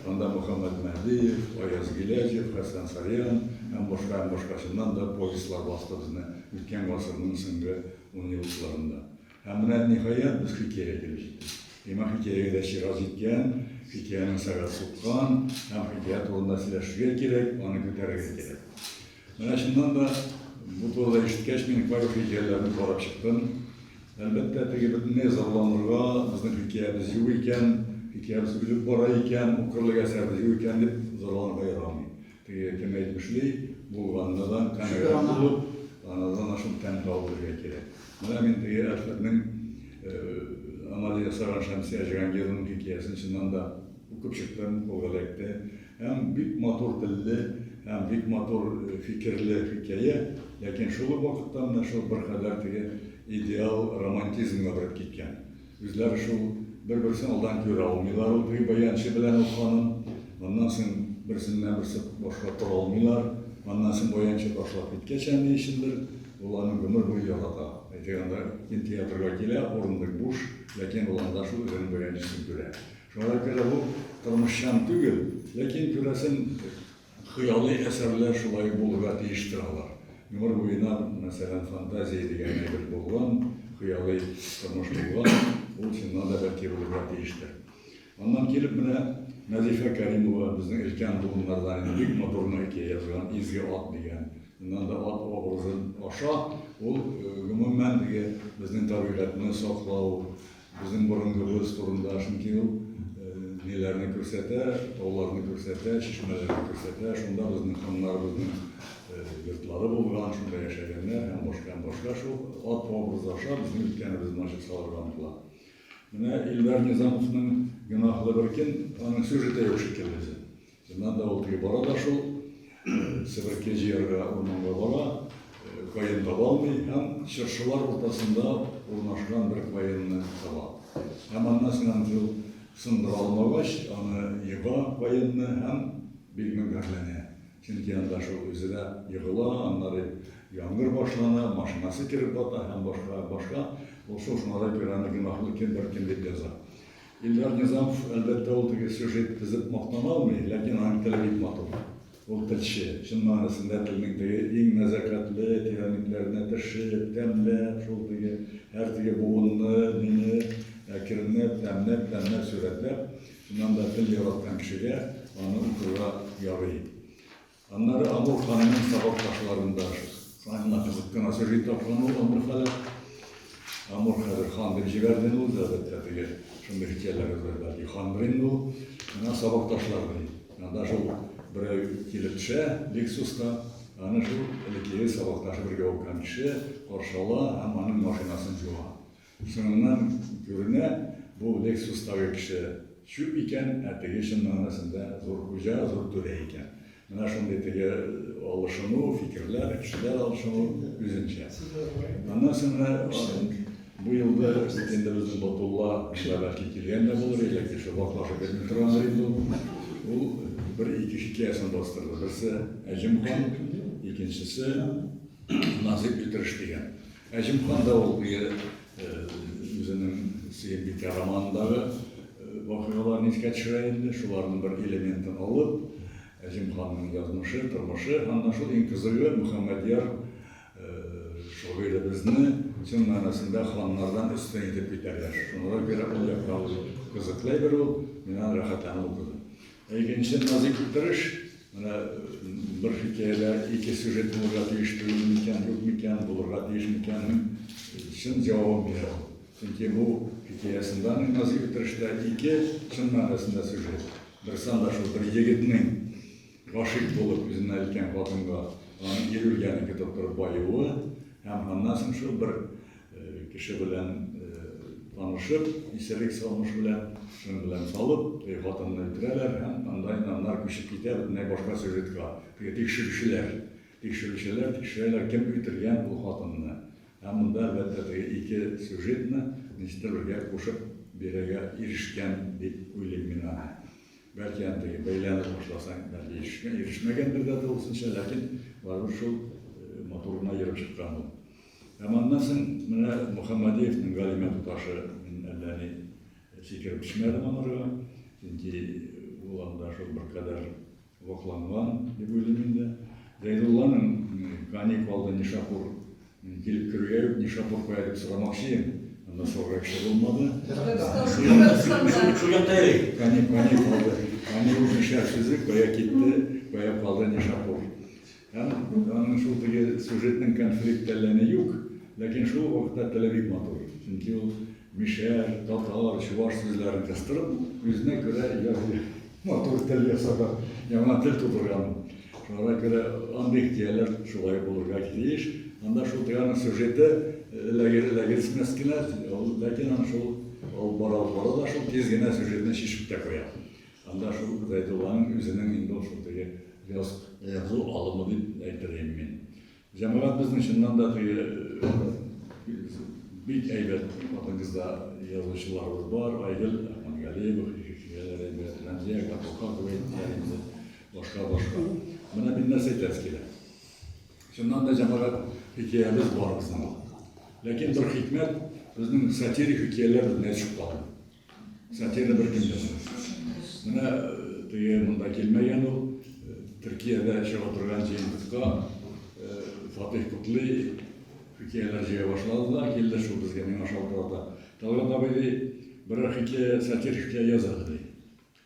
Анда Мөхәммәт Мәһдиев, Аяз Гиләҗев, Хәсән Сарьян һәм башка, һәм башка чыннан да повестьлар басты безне үткән гасырның соңгы унъеллыкларында. Ә менә, ниһаять, без хикәя килеп җиттек. Имам хикәягә дә чират җиткән, хикәянең сәгате суккан һәм хикәя турында сөйләшергә кирәк, аны күтәрергә кирәк. Менә чыннан да бу турыда ишеткәч, мин кайбер хикәяләрне карап чыктым. Әлбәттә, теге бөтенләй зарланырга, безнең хикәябез юк икән, хикәябез үлеп бара икән, укырлык әсәребез юк икән дип зарланырга ярамый. Приятем әйтмешли, булганнадан канәгать булып, анардан ашып тәм табып белергә кирәк. Менә мин теге әфләкнең амале ясаган Шәмсия Җиһангированың хикәясен чыннан да укып чыктым, ул эләкте. Һәм бик матур телле, һәм бик матур фикерле хикәя, ләкин шул ук вакытта менә шул беркадәр теге идеал романтизмга биреп киткән. Үзләре шул бер-берсен алдан күрә алмыйлар ул теге баянчы белән ул ханым. Моннан соң берсеннән берсе башка тора алмыйлар. Моннан соң баянчы ташлап киткәч, әни өчендер, ул аны гомер буе ярата. Әйтик анда кинотеатрга килә, урындык буш, ләкин ул анда шул үзенең баянчысын күрә. Шуңа күрә бу тормышчан түгел, ләкин күрәсен, Хыялый әсәрләр шулай ук булырга тиеш торалар. Гомер буена, мәсәлән, фантазия дигән әйбер булган, хыялый тормыш булган, ул чыннан да бәлки булырга тиештер. Аннан килеп менә Нәзифә Кәримова, безнең өлкән буыннардан инде бик матур гына әкият язган Изге ат дигән. Чыннан да ат образы аша ул гомумән теге безнең табигатьне саклау, Безнең борынгыбыз турында чөнки ул ниләрне күрсәтә, тауларны күрсәтә, чишмәләрне күрсәтә, шунда безнең ханнарыбызның йортлары булган, шунда яшәгәннәр һәм башка һәм башка шул ат образы аша безнең үткәнебезне ачып салырга омтыла. Менә Илдар Низамовның Гөнаһлы бер көн, аның сюжеты юк шикелле. Чыннан да ул теге бара да шул, себерке җыярга урманга бара, каен таба алмый һәм чыршылар уртасында урнашкан бер каенны таба. Һәм аннан соң аны шул сындыра алмагач, аны ега каенны һәм бик мөңгәрләнә. Чөнки анда шул үзе дә егыла, аннары яңгыр башлана, машинасы кереп бата һәм башка, башка. Ул шул шуңарга күрә аны гөнаһлы кем бер кем дип яза. Илдар Низамов, әлбәттә, ул теге сюжет тезеп мактана алмый, ләкин аның теле бик матур. Ул телче, чын мәгънәсендә телнең теге иң нәзакәтле тирәнлекләренә төшеп, тәмләп, шул теге һәр теге буынны, моңы әкренләп, тәмләп, тәмләп сурәтләп, чыннан да тел яраткан кешегә аны укырга ярый. Аннары Амур ханның сабак ташларында шуңа кызып кына сөри тапкан ул Амур хәле. Амур хәзер хан дип җибәрде ул, әлбәттә, теге шундый хикәяләребез бар. Хан белән ул ана сабак ташларны. Анда шул берәү килеп төшә, Лексуска, аны шул элеккеге сабакташы бергә укыган кеше каршы ала һәм аның машинасын җуа. Шуннан күренә, бу Лексустагы кеше чүп икән, ә теге чын мәгънәсендә зур хуҗа, зур түрә икән. Менә шундый теге алышыну, фикерләр, кешеләр алышыну үзенчә. Аннан соңра бу елда бит инде безнең Батулла монда бәлки килгән дә булыр, или әйтик шул ваклашып йөрми торгандыр инде ул. Ул бер-ике хикәясен бастырды. Берсе Әҗем хан, икенчесе Назыйп Өлтереш дигән. Ә Җиһан да ул теге үзенең Сөембикә романындагы вакыйгаларны искә төшерә инде, шуларның бер элементын алып, Җиһанның язмышы, тормышы, һәм менә шул иң кызыгы Мөхәммәдьяр шагыйребезне чын мәгънәсендә ханнардан өстен итеп күтәргән. Шуңа күрә ул якта кызыклы әйбер ул, мин аны рәхәтләнеп укыдым. Икенче назик утырыш, менә бер хикәядә ике сюжет булырга тиеш түгел микән, юк микән, булырга тиеш микәннең чын җавабын бирә ул. Чөнки бу хикәясендә аны назик утырышта ике чын мәгънәсендә сюжет. Бер санда шул бер егетнең гашыйк булып үзенә өлкән хатынга, аның ир үлгәнен көтеп торып баюы һәм аннан соң шул бер Кеше белән танышып, исәлек салмыш белән, шын белән салып, теге хатынны үтерәләр һәм анда инде аннары күчеп китә бөтенләй башка сюжетка. Теге тикшерүчеләр, тикшерүчеләр тикшерәләр, кем үтергән ул хатынны. Ә монда, әлбәттә, теге ике сюжетны ничектер бергә кушып бирергә ирешкән дип уйлыйм мин аны. Бәлки аны теге бәйләнеп башласаң, бәлки ирешмәгәндер дә тулысынча, ләкин барыбер шул матур гына ерып чыккан ул. Ә моннан соң менә Мөхәммәдиевнең галимә туташы, мин әллә ни фикер бирмәдем анарга, чөнки ул анда шул беркадәр вакланган дип уйлыйм инде. Зәйдулланың кани калды Нишапур килеп керүгә үк Нишапур кая дип сорамакчы идем, анда сорарга кеше булмады. Кани калды, кани ул нишә сүзе, кая китте, кая калды Нишапур. Һәм аның шул теге сюжетның конфликт әлләни юк, ләкин шул ук вакытта теле бик матур. Чөнки ул мишәр, татар, чуваш сүзләрен кыстырып, үзенә күрә язгы матур тел ясап, яңа тел тудырган. Шуңа күрә андый хикәяләр шулай булырга тиеш. Анда шул теге сюжеты эләгерсмәс кенә, ләкин аны шул алып бара алып бара да шул тиз генә сюжетны чишеп тә куя. Анда шул Гыйзәйтулланың үзенең инде ул шул теге яз язу алымы дип әйтер идем мин. Җәмәгать безнең чыннан да теге бик әйбәт хатын-кызда язучыларыбыз бар. Айгөл Ахмангалиева, Хикәяләр әйбәт, Рәмзия Габдулкар дип әйттеләр инде. Башка-башка. Менә мин нәрсә әйтәсе килә. Чыннан да җәмәгать хикәябез бар безнең. Ләкин бер хикмәт, безнең сатирик хикәяләр бетмәй чыккан. Сатирда бер кем дә булмас. Менә теге монда килмәгән ул, Төркиядә чыга торган җыентыкка Фатих Кутлы хикәяләр җыя башлады да, килде шул безгә, миңа шалтырата. Талгат абый ди, берәр хикәя, сатир хикәя языгыз ди.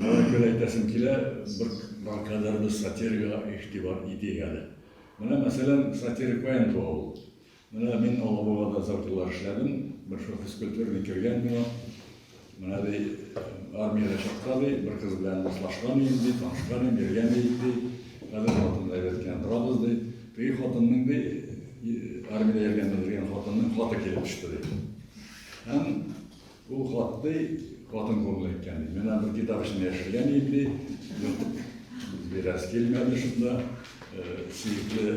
Шуңа күрә әйтәсем килә, бер бар кадәрбез сатирикага игътибар итик әле. Менә, мәсәлән, сатирик каян туа ул? Менә мин Алабугада озак еллар эшләдем, бер шул физкультурный кергән миңа. Менә ди, армиядә чакта ди, бер кыз белән дуслашкан идем ди, танышкан идем, йөргән идек ди. Хәзер хатынны әйбәт кенә торабыз ди. Теге хатынның ди, армиядә йөргәндә белгән хатынның хаты килеп төште ди. Һәм Ул хат ди, хатын кулына икән ди. Менә бер китап эчендә яшергән идем ди. Ертып бирәс килмәде шунда. Сөекле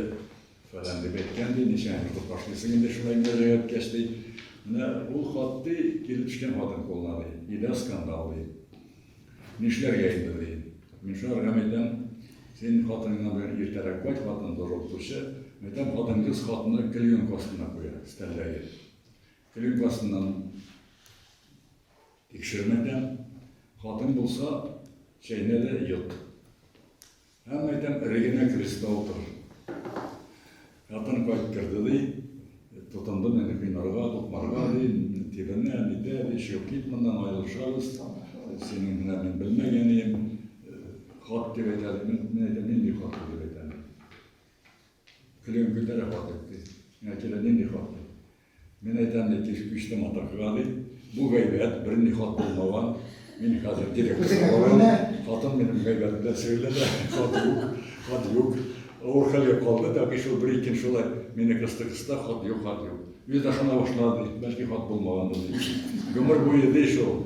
фәлән дип әйткән ди. Ничә ертып башлыйсың инде шулай мөрәҗәгать иткәч ди. Менә ул хат ди, килеп төшкән хатын кулына ди. Илә скандал ди. Нишләргә инде ди. Мин шулар гам әйтәм, син хатыныңнан белән иртәрәк кайт, хатын дорылтучы. Мәйтәм, хатын кыз хатыны клеенка астына куя, стәлләге. Телең классыннан тикшермәдем. Хатын булса, чәйнә дә йот. Һәм әйтәм, эрегенә креста утыр. Хатын кайттырды, ди. Тотынды мине кыйнарга, тукмарга, ди. Тибенә, нитә, ди. Чыгып кит моннан, аерылышабыз. Синең менә мин белмәгән идем. Хат дип әйтә, ди. Мин әйтәм, нинди хат бу, дип әйтәм. Көлегем күтәрә хат дип, ди. Миңа килә, нинди хат, ди. Мин әйтәм бит, тишек мичтә матур кыга ди. Бу гайбәт, берни хат булмаган. Мин хәзер директор сабалам. Хатын минем гайбәт белән шөгыльләнә. Хат юк, хат юк. Авыр хәлгә калды, тәкъи шул бер ике ел шулай мине кысты-кысты, хат юк, хат юк. Үзе дә ышана башлады, бәлки хат булмагандыр дип. Гомер буе ди шул.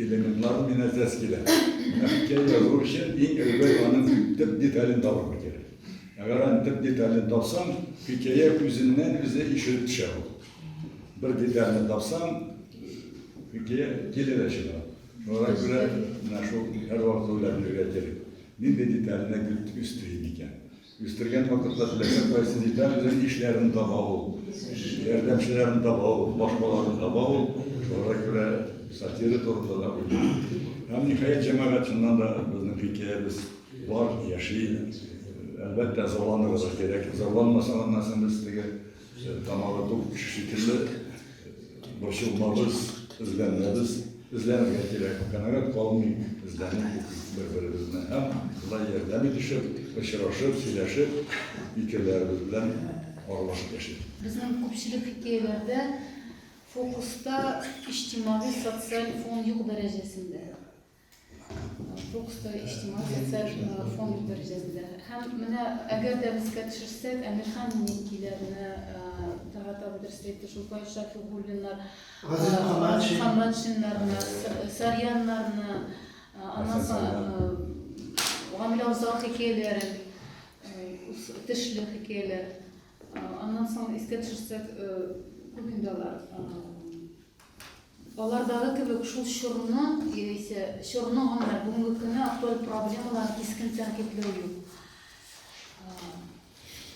Элементлар мин әзәс килә. Хикәя язу өчен иң әүвәл аның төп детален табырга кирәк. Әгәр аны төп детален тапсаң, хикәя үзеннән үзе ишелеп төшә ул. Бер детальне тапсаң, хикәя килә дә чыга. Шуңа күрә менә шул һәрвакыт уйлап йөрергә кирәк. Нинди детальне өстери микән? Үстергән вакытта теләсә кайсы деталь белән ишләрен таба ул, ярдәмчеләрен таба ул, башкаларын таба ул, шуңа күрә сатира турында да уйлый. Һәм ниһаять җәмәгать чыннан да безнең хикәябез бар, яши. Әлбәттә, зарланырга кирәк. Зарланмасаң, аннан соң без теге Тамагы тук кеше шикелле, борчылмабыз, эзләнәбез, эзләнергә кирәк, канәгать калмыйк, эзләнеп укыйк бер-беребезне һәм шулай ярдәм итешеп, очрашып, сөйләшеп, фикерләребез белән аралашып яшик. Безнең күпчелек хикәяләрдә фокуста иҗтимагый-социаль фон юк дәрәҗәсендә. Туксто, иҗтимагый социаль фонд дәрәҗәсендә. Һәм менә әгәр дә без искә төшерсәк, Әмирхан Минекиләрне таратабыз, дөрес әйтте, шул Фаил Шафигуллиннар, Газиз Хаматшиннарны, Сарьяннарны, аннан соң Гамилә Усал хикәяләрен, Тешле хикәяләр, аннан соң искә төшерсәк, күп инде алар. Алардагы кебек шул чорны, яисә чорны гына бүгенге көнне актуаль проблемалар кискен тәнкыйтьләү юк.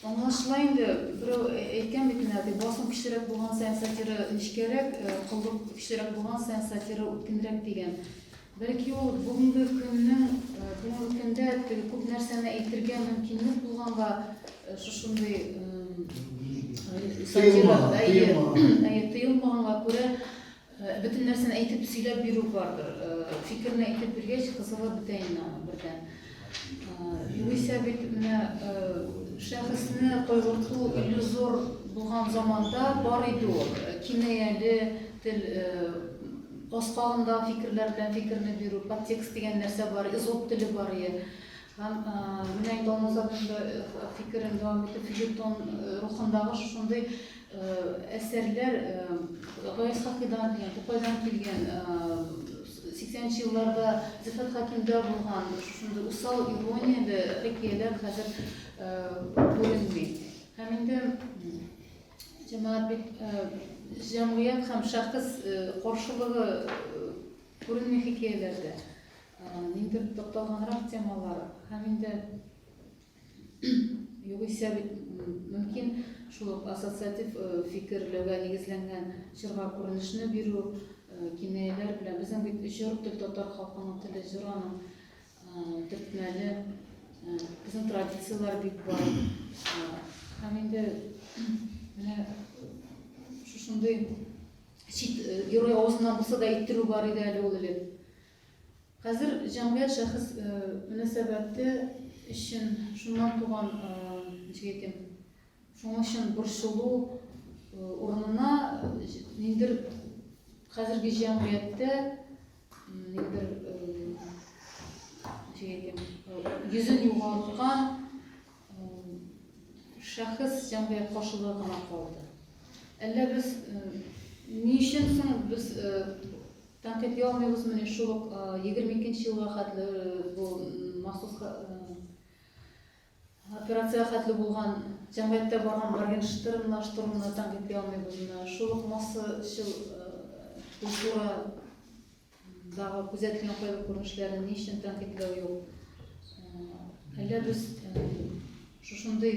Аңлашыла инде, берәү әйткән бит менә, ди, басым көчлерәк булган саен сатира нечкәрәк, коллык көчлерәк булган саен сатира үткенрәк дигән. Бәлки ул бүгенге көннең, бүгенге көндә теге күп нәрсәне әйтергә мөмкинлек булганга шушындый сатирада, әйе, әйе, тыелмаганга күрә бөтен нәрсәне әйтеп сөйләп бирү бардыр. Фикерне әйтеп биргәч, кызыгып бетә инде аны бердән. Югыйсә бит менә шәхесне кайгырту иллюзор булган заманда бар иде ул. Кинаяле тел баскагында фикерләр белән фикерне бирү, подтекст дигән нәрсә бар, изоп теле бар иде. Һәм менә инде Алмазабында фикерен дәвам итеп, филитон рухындагы шушындый әсәрләр Гаяз Хакыйдан дигән, Тукайдан килгән Сиксәнче елларда Зөлфәт Хәкимдә булган шушындый усал иронияле хикәяләр хәзер күренми. Һәм инде җәмәгать бит җәмгыять һәм шәхес каршылыгы күренми хикәяләрдә. Ниндидер тукталганрак темалар һәм инде Югыйсә бит мөмкин шул ук ассоциатив э, фикерләүгә нигезләнгән җырга күренешне бирү, э, кинаяләр белән. Безнең бит җыр тел татар халкының теле, җыр аның э, төртмәле. Безнең традицияләр бик бар. Һәм инде менә шушындый чит герой авызыннан булса да иттерү бар иде әле ул элек. Хәзер җәмгыять шәхес мөнәсәбәте өчен шуннан туган, ничек әйтим, шуның өчен борчылу урынына ниндидер хәзерге җәмгыятьтә ниндидер ничек әйтим, йөзен югалткан шәхес җәмгыять каршылыгы гына калды. Әллә без ни өчен соң без Тәнкыйть яумыйбыз менә шул ук 22 нче елга хәтле бу махсус операциягә хәтле булган җәмгыятьтә барган моргенштернлаштыруны тәнкыйть яумыйбыз менә шул ук массачыл культурадагы күзәтелгән кайбер күренешләрен ни өчен тәнкыйтьләү юк әллә без шушындый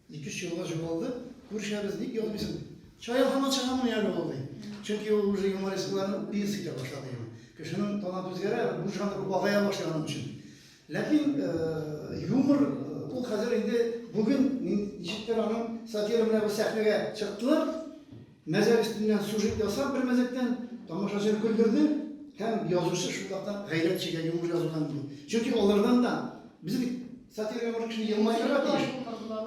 Ике-өч елга җугалды, күрешәбез, ник язмыйсың, ди. Чая һаман чыгамыни әле ул, ди. Чөнки ул уже юмористларны пьеса итә башлады инде. Кешенең таланты үзгәрә, бу жанр азая башлый аның өчен. Ләкин юмор ул хәзер инде бүген ничектер аның сатира белән бер сәхнәгә чыктылар. Мәзәк өстеннән сюжет ясап, бер мәзәктән тамашачыны көлдерде һәм язучы шулвакта гайрәт чигә юмор язудан ди. Чөнки алардан да без бит сатирага бер кешене елмайдырга тиеш.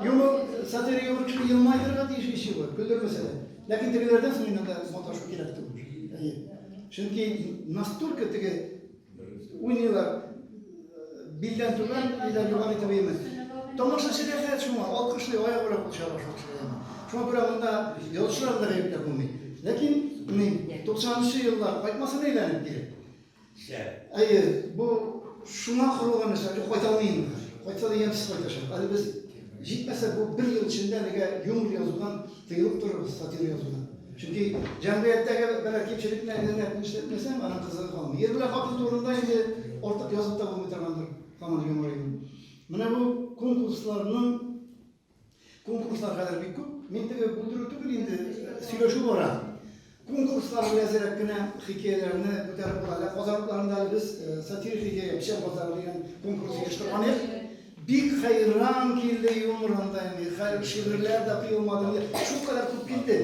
Юмор сатирага бер кешене елмайдырга тиеш ичи бу, көлдермәсә дә. Ләкин тегеләрдән соң инде маташу кирәк түгел. Әйе. Чөнки настолько теге Уйныйлар. Билдән түбән, билдән югары итеп уйныйбыз. Тамашачы рәхәт шуңа, алкышлый, аягы белән кул чаба шуңа. Шуңа күрә монда ялчылар да гаепләп булмый. Ләкин ни, 90-нчы еллар кайтмасын әйләнеп килеп. Әйе, бу шуңа корылган нәрсә, кайталмый инде. Кайтса да ямьсез кайтачак. Әле без Җитмәсә, бу бер ел эчендә әлегә юмор язудан тыелып торыгыз, сатира язудан. Чөнки җәмгыятьтәге берәр кимчелекне әйләнәп нишләтмәсәң, аның кызыгы калмый. Ир белән хатын турында инде артык язып та булмый торгандыр, һаман юмор әйдә. Менә бу конкурсларның, конкурслар хәзер бик күп. Мин теге бүлдерү түгел инде, сөйләшү бара. Конкурслар белән әзрәк кенә хикәяләрне күтәреп була. Әле Казаныкларында әле без сатирик хикәя Печән базары дигән конкурс оештырган идек. Бик хәйран килде юмор анда инде. Хәл шигырьләр дә тыелмады инде. Шулкадәр күп килде.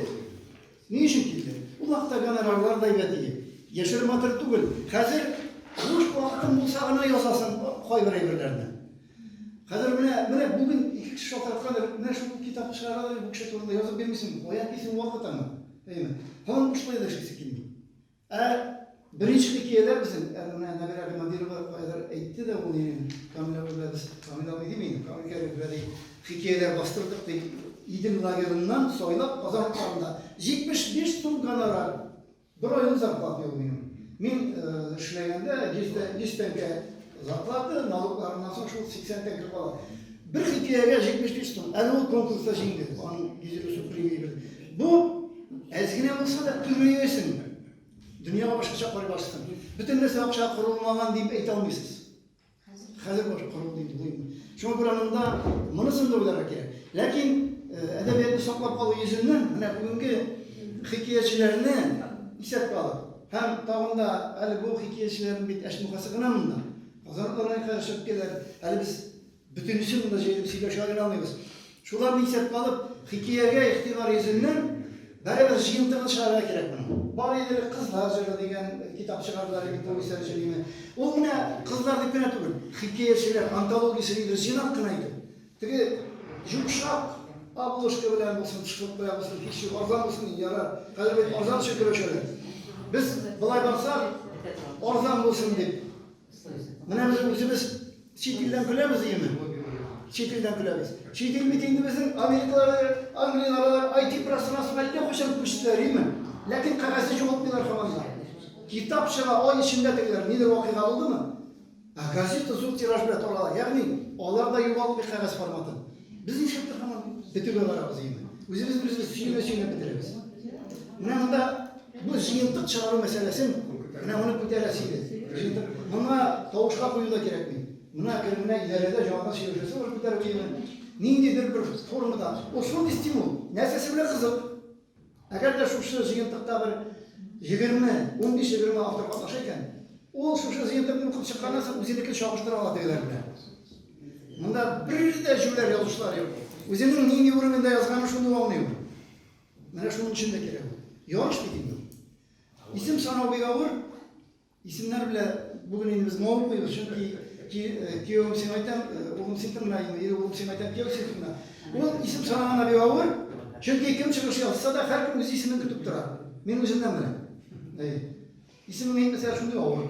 Ни өчен килде? Ул вакытта гонорарлар да әйбәт иде. Яшереп матыр түгел. Хәзер буш вакытың булса гына язасың кайбер әйберләрне. Хәзер менә, менә бүген ике кеше шалтыраткандыр, менә шул китапны чыгаралар, бу кеше турында язып бирмисеңме? Каян килсен вакыт аңа? Әйеме? Һаман бушлай да эшлисе килми. Ә беренче хикәяләр безнең, ә менә Нәбирә Гыймадирова каядыр әйтте дә ул ирен, Камил абый белән без, Камил абый дими, Камил Кәрим белән ди, хикәяләр бастырдык ди, Идел лагерыннан сайлап Казан урамында 75 сум гонорар. Бер айлык зарплата юк минем. Мин эшләгәндә 100 тәңкә зарплата, налогларыннан соң шул 80 тәңкә кала. Бер хикәягә 75 сум. Әле ул конкурста җиңде. Аның гидрошу премия бирде. Бу әз генә булса да күбәясен. Дөньяга башкача карый башлыйсың. Бөтен нәрсә акча корылмаган дип әйтә алмыйсыз. Хәзер баш кору диде. Шуңа күрә монда монысын да уйларга кирәк. Ләкин әдәбиятны саклап калу йөзеннән менә бүгенге хикәячеләрне исәпкә алып, һәм тагын да әле бу хикәячеләрнең бит әшмухасы гына монда. Казан районына яшәп киләләр. Әле без бөтенесен монда җыелып сөйләшә алмыйбыз. Шуларны исәпкә алып, хикәягә игътибар йөзеннән, барыбер җыентыгын чыгарырга кирәк моның. Бар иде элек Кызлар җыры дигән китап чыгардылар иде повестьлар өчен дигән. Ул менә кызлар дип кенә түгел, хикәячеләр антологиясе дидер, җыйнак кына итеп. Теге йомшак обложка белән булсын, шкуркая булсын, һич юк, арзан булсын, ярар. Хәзер бит арзан өчен көрәшәләр. Без, болай барсак, арзан булсын дип. Менә без үзебез чит илдән көләбез дигәнме? Чит илдән көләбез. Чит ил бит инде безнең Америкалары, Англияләр, IT пространствосына әллә кайчан күчтеләр, име? Ләкин кәгазьне югалтмыйлар һаман да. Китап чыга, ай эчендә тегеләр нидер вакыйга булдымы? Ә газета зур тираж белән тарала. Ягъни алар да югалтмый кәгазь форматын. Без ничектер һаман бетүгә барабыз инде. Үзебез беребезне сөйләмә сөйләп бетерәбез. Менә монда бу җыентык чыгару мәсьәләсен менә моны күтәрәсе иде. Җыентык. Моңа тавышка кую да кирәкми. Менә кермә идарәдә җанга сөйләшәсе бар күтәреп килгән. Ниндидер бер формада. Ул шундый стимул. Нәрсәсе белән кызык. Әгәр дә шушы җыентыкта бер егерме, унбиш-егерме автор катнаша икән, ул шушы җыентыкны укып чыкканнан соң үзенекен чагыштыра ала тегеләр белән. Монда бер дә җүләр язучылар юк. Үзенең нинди уровеньда язганын шундук аңлый ул. Менә шуның өчен дә кирәк ул. Ярыш бит инде ул. Исем санау бик авыр. Исемнәр белә бүген инде без мавык куйбыз, чөнки киевым син айтам, улым син тыңна, ире улым син айтам, кияү син тыңна. Ул исем санаганда бик авыр, чөнки кем чыгыш ясаса да һәркем үз исемен көтеп тора. Мин үземнән беләм. Исемең әйтмәсә шундый авыр.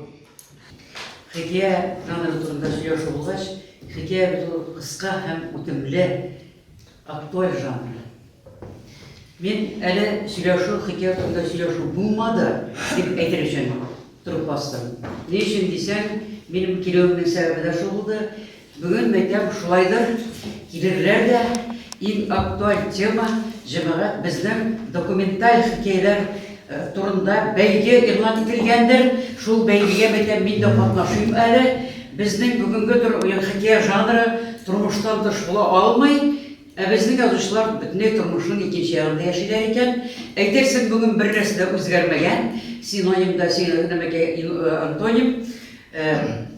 Хикәя жанры турында сөйләшү булгач, хикәя бит ул кыска һәм үтемле. Актуаль жанры. Мин әле сөйләшү, хикәя турында сөйләшү булмады, дип әйтер өчен торып бастым. Ни өчен дисәң, минем килүемнең сәбәбе дә шул булды. Бүген мәктәп шулайдыр, килерләр дә иң актуаль тема җәмәгать безнең документаль хикәяләр Турында бәйге игълан ителгәндер. Шул бәйгегә мәйтәм, мин дә катнашыйм әле. Безнең бүгенге тор ягъни хикәя жанры тормыштан тыш була алмый. Ә безнең язучылар бөтенләй тормышның икенче ягында яшиләр икән. Әйтерсең, бүген бернәрсә дә үзгәрмәгән. Синоним да син нәмәкәй антоним.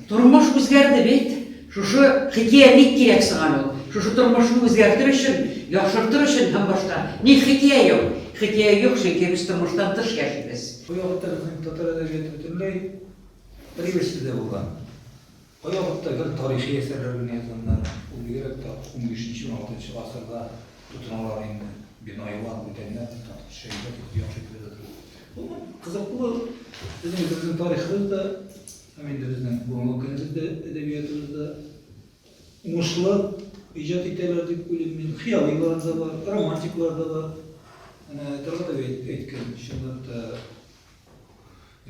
Тормыш үзгәрде бит. Шушы хикия ник кирәк соң әле ул? Шушы тормышны үзгәртер өчен, яхшыртыр өчен һәм башка. Ник хикия юк? Хикия юк, чөнки без тормыштан тыш яшибез. Кай вакытта безнең татар әдәбияты бөтенләй бер ибәрсез дә булган? Кай вакытта гел тарихи әсәрләр генә язганнар, ул бигрәк тә унбишенче-уналтынчы гасырда? Тотыналар инде. Бинаилар, бүтәннәр дип татып төшә иде, бик яхшы күрде бу. Бу кызык бу. Безнең безнең тарихыбыз да, һәм инде безнең бүгенге көнебез дә әдәбиятыбыз да уңышлы иҗат итәләр дип уйлыйм мин. Хыялыйлар да бар, романтиклар да бар. Әнә Таргатов әйткән, чынлап та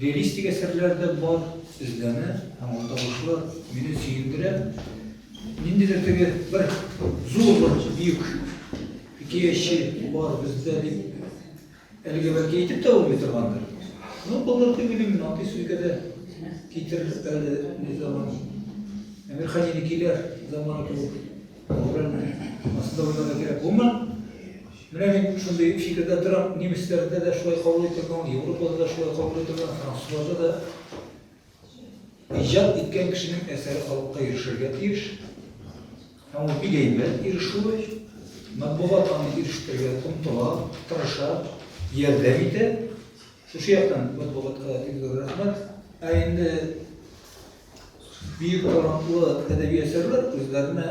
Реалистик әсәрләр дә бар, эзләнә һәм уртабашлы мине сөендерә. Ниндидер теге бер зур бер бөек хикәяче бар бездә дип әлегә бәлки әйтеп тә булмый торгандыр. Ну, булыр дип уйлыйм, мин андый сүзгә дә китерер әле ни заман. Әмир Хәнинекиләр заманы кебек. Аслында уйларга кирәк булмый. Менә мин шундый фикердә торам, немецләрдә дә шулай кабул ителгән, Европада да шулай кабул ителгән, французларда да иҗат иткән кешенең әсәре халыкка ирешергә тиеш. Һәм ул бик әйбәт ирешүе, матбугат аны ирештерергә омтыла, тырыша, ярдәм итә. Шушы яктан матбугатка бик зур рәхмәт. Ә инде бөек талантлы әдәби әсәрләр үзләренә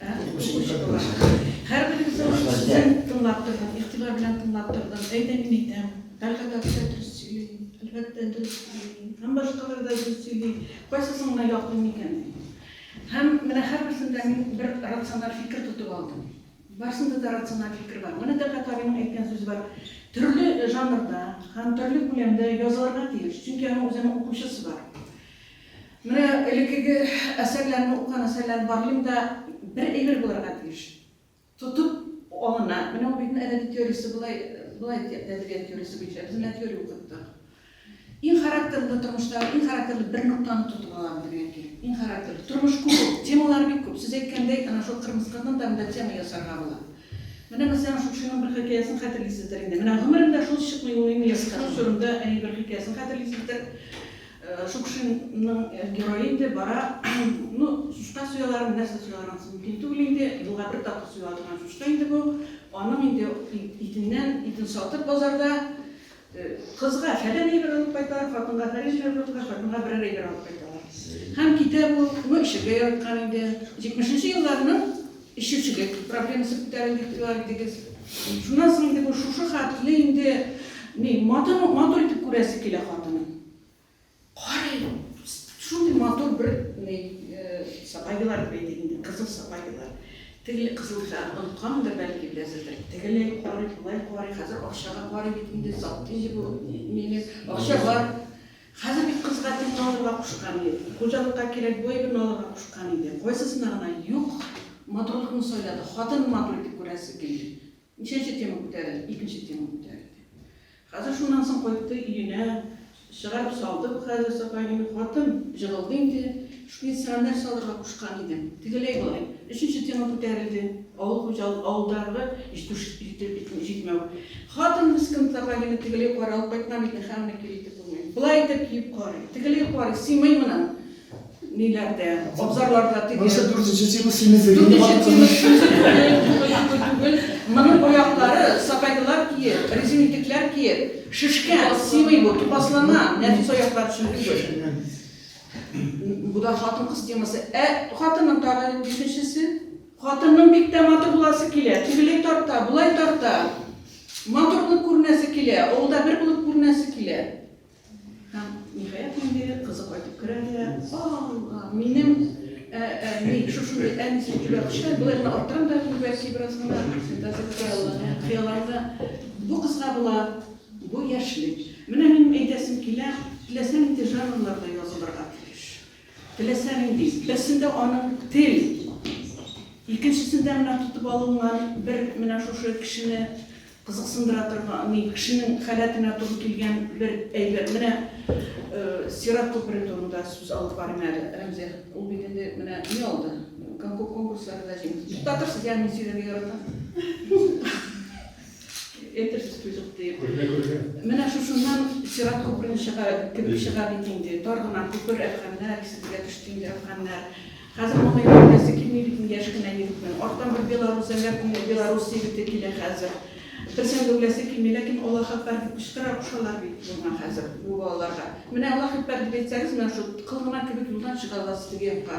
Укучы була. Һәрберегезнең сүзен тыңлап тордым, игътибар белән тыңлап тордым. Әйдә, мин әйтәм. Тәлгать абый да дөрес сөйли, әлбәттә, дөрес сөйли. Һәм башкалар да дөрес сөйли. Кайсысын гына яклыйм икән? Һәм менә һәрберсен дә мин бер рациональ фикер тотып алдым. Барсында да рациональ фикер бар. Менә Тәлгать абыйның әйткән сүзе бар. Төрле жанрда һәм төрле күләмдә язылырга тиеш, чөнки аның үзенең укучысы бар. Менә элеккеге әсәрләрне укыган әсәрләрне барлыйм да, бер әйбер булырга тиеш. Тотып алына. Менә ул бит әдәби теориясе болай, болай ди, әдәбият теориясе буенча. Без менә теория укыттык. Иң характерлы тормыштагы, иң характерлы бер ноктаны тотып алам дигән килеп. Иң характерлы. Тормыш күп ул. Темалар бик күп. Сез әйткәндәй, ана шул кырмыскадан да монда тема ясарга була. Менә мәсәлән, шукшиның бер хикәясен хәтерлисездер инде. Менә гомерендә шул чыкмый ул минем яшь кызым турында әни бер хикәясен хәтерлисездер. Шукшинның герое инде бара. Ну, чучка суялармы, нәрсә суялар, анысы мөмкин түгел инде. Елга бер тапкыр суела торган чучка инде бу. Аның инде итеннән, итен сатып базарда, кызга фәлән әйбер алып кайталар, хатынга фәлән әйбер алып кайталар, хатынга берәр әйбер алып кайталар. Һәм китә бу. Ну, эчәргә яраткан инде. Җитмешенче елларның Эчүчелек проблемасы күтәрелде дип әйттегез. Шуннан соң инде бу шушы хәтле инде ни, матур, матур итеп күрәсе килә хатынын. Карый, шундый матур бер ни, сабайлар дип әйтик инде, кызыл сабайлар. Теге кызылга оныткандыр, бәлки, берәрсендер. Тегеләй карый, болай карый, хәзер акчага карый бит инде, сатты инде бу мине, акча бар. Хәзер бит кызга тиң алырга кушкан ди, хуҗалыкка кирәк боегын алырга кушкан иде. Кайсысына гына юк, матурлыкны сайлады. Хатынын матур итеп күрәсе килде. Ничәнче тема күтәрелде? Икенче тема күтәрелде. Хәзер шуннан соң кайтты өенә, чыгарып салды бу хәзер Сафа әнинең хатын, җыгылды инде. Пенсионер салырга кушкан идем. Тегеләй-болай. Өченче тема күтәрелде. Авыл хуҗалык, авылдагы җитештерү җитмәү. Хатын мескен тырга генә тегеләй карый, алып кайтмам икән, хәмер кир итеп булмый. Болай итеп киеп карый. Тегеләй карый, сыймый моның ниләрдә, абзарларда теге. Монысы дүртенче тема, симезлек. Дүртенче тема, симезлек түгел, түгел. Моның аяклары сапоглар киеп, резин итекләр киеп, шешкән, сыймый бу, тупаслана, нәфис аяклар өчен түгел. Бу да хатын-кыз темасы. Ә хатынның тагы бишенчесе? Хатынның бик тә матур буласы килә. Тегеләй тарта, болай тарта. Матур булып күренәсе килә, авылда бер булып күренәсе килә. Һәм ниһаять инде кызы кайтып керә дә, "Алла, минем ә, ә, мин шушындый әнисе җибәреп кичә, болай гына арттырам да, күрәсе бераз гына, фантазия кыяллана. Бу кызга була Бу яшьлек. Менә минем әйтәсем килә, теләсә нинди жанрларда язылырга тиеш. Теләсә нинди. Берсендә аның тел, икенчесендә менә тотып алынган бер менә шушы кешене кызыксындыра торган, ни, кешенең халәтенә туры килгән бер әйбер. Менә Сират күпере турында сүз алып барыйм әле, Рәмзия. Ул бит инде менә ни алды? Конкурсларда җиңде. Туктатырсыз, я, мин сөйләргә яратам. Әйтерсез түзеп диеп. Күргә күргә. Менә шушыннан сират күперен чыга, кебек чыга бит инде. Тар гына күпер әфганнар, исегезгә төште инде әфганнар. Хәзер моны йөртәсе килми бит инде яшь кенә егетнең. Арттан бер белорус, әллә кемнең белорус егете килә хәзер. Берсен дә үләсе килми, ләкин Аллаһ әкбәр дип кычкыра кушалар бит моңа хәзер бу балаларга. Менә Аллаһ әкбәр дип әйтсәгез, менә шул кыл гына кебек юлдан чыга аласыз теге якка.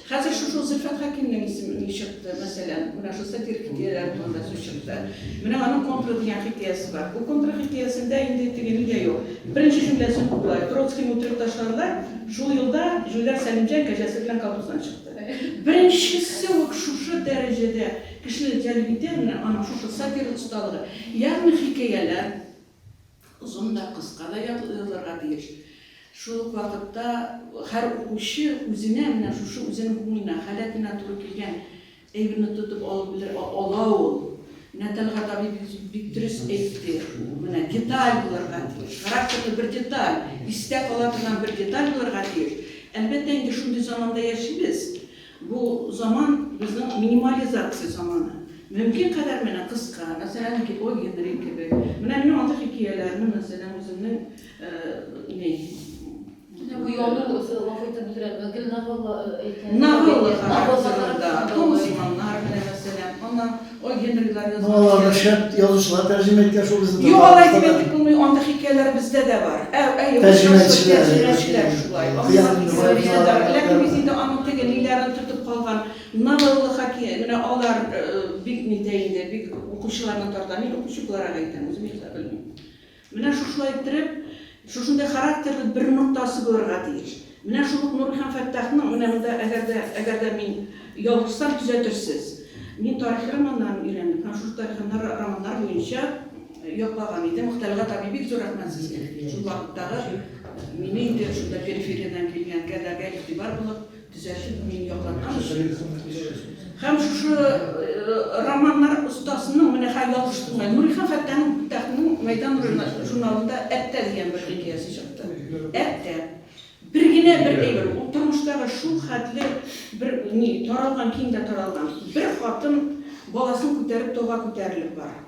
Хәзер шушы Зөлфәт Хәкимнең исеме ни чыкты, мәсәлән, менә шул сатирик хикәяләр турында сүз чыкты. Менә аның контры дигән хикәясе бар. Бу контры хикәясендә инде теге ни дә юк. Беренче җөмләсе бу болай, Троцкийны үтереп ташларлар, шул елда җүләр Сәлимҗан кәҗәсе белән колхоздан чыкты. Беренчесе үк шушы дәрәҗәдә кешене җәлеп итә, менә аның шушы сатирик осталыгы. Ягъни хикәяләр, Озын да, кыска да язылырга тиеш. Шул ук вакытта һәр укучы үзенә, менә шушы үзенең күңеленә, халәтенә туры килгән әйберне тотып алып белер, ала ул. Менә Тәлгать абый бик дөрес әйтте, менә деталь булырга тиеш, характерлы бер деталь, истә кала торган бер деталь булырга тиеш. Әлбәттә, инде шундый заманда яшибез. Бу заман, безнең минимализация заманы. Мөмкин кадәр менә кыска, мәсәлән, О. Генри кебек. Менә минем андый хикияләрне, мәсәлән, үземнең ни. Менә бу яну, гафу итеп бүлдерәм, гел новелла әйтә. Новелла характерында, Комсыманнар менә, мәсәлән, аннан. Ой, Генрилар язган. Ну аларны шәп язучылар тәрҗемә иткән шул безнең Юк, алай дип әйтеп булмый, андый хикәяләр бездә дә бар. Ә, ә Тәрҗемәчеләр, тәрҗемәчеләр шулай. Кыяр инде болай язалар. Ләкин без инде аның теге ниләрен тотып калган, новелла хаки, менә алар бик нитә инде, бик укучыларны тарта. Мин укучы буларак әйтәм, үзем яза белмим. Менә шушылай иттереп, шушындый характерлы бер ноктасы булырга тиеш. Менә шул ук Нурый һәм Фәттахның, менә монда әгәр дә, әгәр дә мин ялгышсам, төзәтерсез. Мин тарихи романнарын өйрәндем һәм шушы тарихи романнар буенча яклаган идем. Мөхтәлгать абый, бик зур рәхмәт сезгә, шул вакыттагы, мине инде шунда перифериядән килгән кәдәргә игътибар булып, Төзәчек мин яклардан өчен. Һәм шушы романнар остасының, менә хәй ялгыш булмай, Нурихан Фәттахның Фәттахның Мәйдан журналында Әттә дигән бер хикәясе чыкты. Әттә. Бер генә бер әйбер, ул тормыштагы шул хәтле бер ни, таралган, киң дә таралган. Бер хатын баласын күтәреп тауга күтәрелеп бара.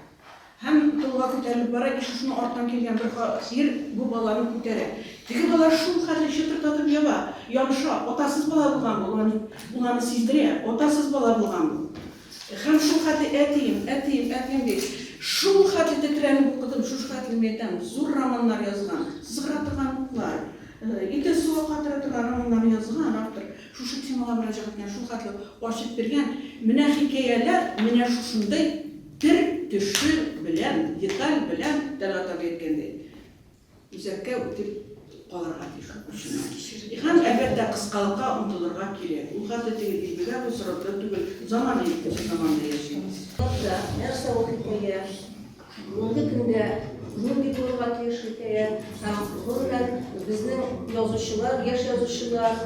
Һәм толга күтәрелеп бара, и шушының артыннан килгән бер ха сыер бу баланы күтәрә. Теге бала шул хәтле чытырдатып ява, ямша, атасыз бала булган бу, улан уланы сиздерә, атасыз бала булган бу. Һәм шул хәтле әтием, әтием, әтием ди. Шул хәтле тетрәнеп укыдым, шушы хәтле мин әйтәм, зур романнар язган, сызгыра торган уклар, идел суга катыра торган романнарны язган автор, шушы темага мөрәҗәгатьне шул хәтле ачып биргән, менә хикәяләр менә шушындый. Тел төше белән, деталь белән таратырга әйткәндәй, үзәккә үтеп калырга тиеш укучының. Һәм, әлбәттә, кыскалыкка омтылырга кирәк. Ул хәтле теге дилбегә бу сорокта түгел, заман итеп заманда яшибез. Сорокта нәрсә ул хикәя, мондый көндә нинди булырга тиеш хикәя һәм, гомумән, безнең язучылар, яшь язучылар,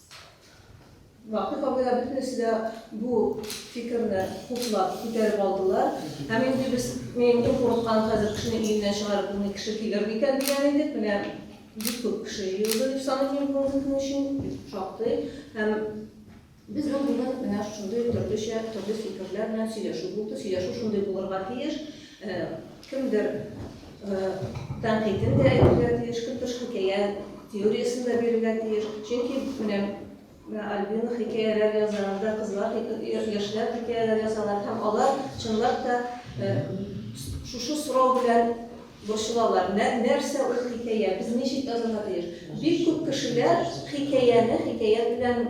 Вахип абый да бөтенесе дә бу фикерне хуплап күтәреп алдылар. Һәм инде без мин күп курыккан хәзер кешене өеннән чыгарып булмый кеше килер микән дигән идек. Менә бик күп кеше җыелды дип саныйм мин бүгенге көн өчен шактый. Һәм безнең бүген менә шундый төрлечә төрле фикерләр белән сөйләшү булды. Сөйләшү шундый булырга тиеш. Кемдер тәнкыйтен дә әйтергә тиеш, Көтеш хикәя теориясен дә бирергә тиеш. Чөнки менә Альбина хикәяләр яза, анда кызлар, яшьләр хикәяләр язалар һәм алар чынлап та шушы сорау белән борчылалар. Нәрсә ул хикәя? Без ничек язарга тиеш? Бик күп кешеләр хикәяне хикәя белән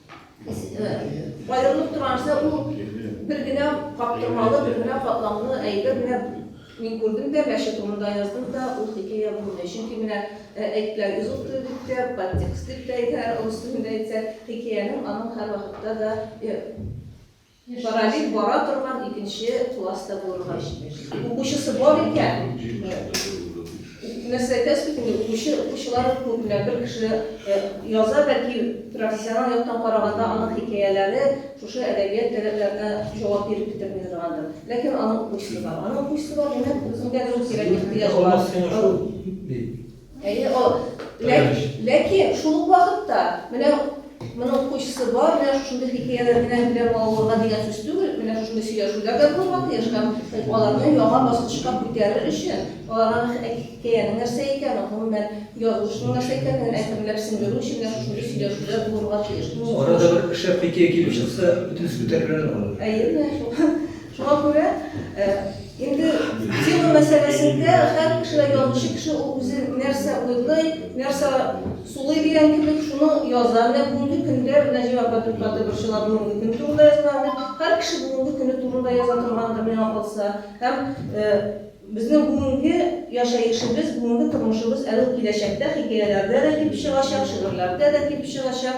Аерылып тора нәрсә, ул бер генә каптырмалы, бер генә катламлы әйбер. Менә мин күрдем дә, мәче турында яздым да, ул хикәя булмый. Чөнки менә әйткән узыл тел дип тә, подтекст дип тә әйтәләр, урыс телендә әйтсәк, хикәянең аның һәрвакытта да Параллель бара торган икенче класс та булырга тиеш. Укучысы бар икән, нәрсә әйтәсез бит инде, укучы, укучылар күпме, бер кеше яза, бәлки профессионал яктан караганда аның хикәяләре шушы әдәбият таләпләренә җавап биреп бетерми торгандыр. Ләкин аның укучысы бар. Аның укучысы бар, димәк, үзеңдә дөрес кирәк ихтыяҗ бар. Әйе, ул. Ләкин шул ук вакытта, менә моның кучысы бар, менә шушындый хикәяләр белән белән балаларга дигән сүз түгел, менә шушындый сөйләшүләр дә булырга тиеш һәм аларны яңа баскычка күтәрер өчен, аларга хикәянең нәрсә икәнен, гомумән, язмышның нәрсә икәнен әкренләп сеңдерү өчен менә шушындый сөйләшүләр булырга тиеш. Арада бер шәп хикәя килеп чыкса, бөтенесе күтәрелер инде. Әйе, менә шул. Шуңа күрә инде тема мәсьәләсендә һәр кеше дә язучы кеше ул үзе нәрсә уйлый, нәрсә сулый дигән кебек шуны яза. Менә бүгенге көндә Нәҗиба апа туктатып борчыла, бүгенге көн турында язган дип. Һәр кеше бүгенге көне турында яза торгандыр, миңа калса. Һәм безнең бүгенге яшәешебез, бүгенге тормышыбыз әле ул киләчәктә хикәяләрдә дә килеп чыгачак, шигырьләрдә дә килеп чыгачак.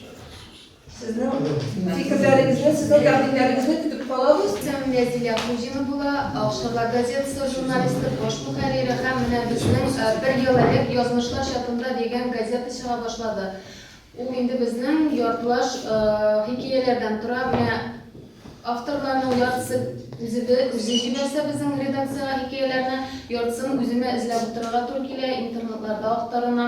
Сезнең фикерләрегезне, сезнең тәкъдимнәрегезне көтеп калабыз. Сәмия Зилә Кузина була, Акшарлар газетасы журналисты, баш мөхәррире һәм менә безнең бер ел элек Язмышлар чатында дигән газета чыга башлады. Ул инде безнең яртылаш хикәяләрдән тора. Менә авторларның яртысы үзе җибәрсә безнең редакциягә хикәяләрне, яртысын үземә эзләп утырырга туры килә, интернетларда актарына.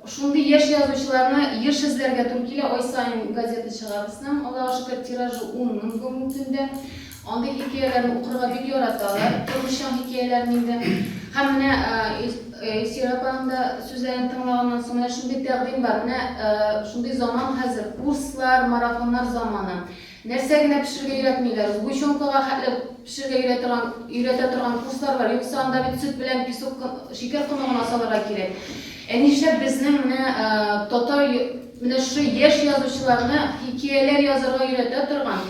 Шундый яшь язучыларны еш эзләргә туры килә. Ай саен газета чыга безнең. Аллага шөкер, тиражы ун мең бүгенге көндә. Андый хикәяләрне укырга бик яраталар. Тормышчан хикәяләрен инде. Һәм менә Илсөя апаның да сүзләрен тыңлаганнан соң, менә шундый тәкъдим бар. Менә шундый заман хәзер, курслар, марафоннар заманы. Нәрсә генә пешерергә өйрәтмиләр. Сгущенкага хәтле пешерергә өйрә торган, өйрәтә торган курслар бар. Юкса анда бит сөт белән песок кы, шикәр комы гына салырга кирәк. Ә нишләп безнең менә татар менә шушы яшь язучыларны хикияләр язарга өйрәтә торган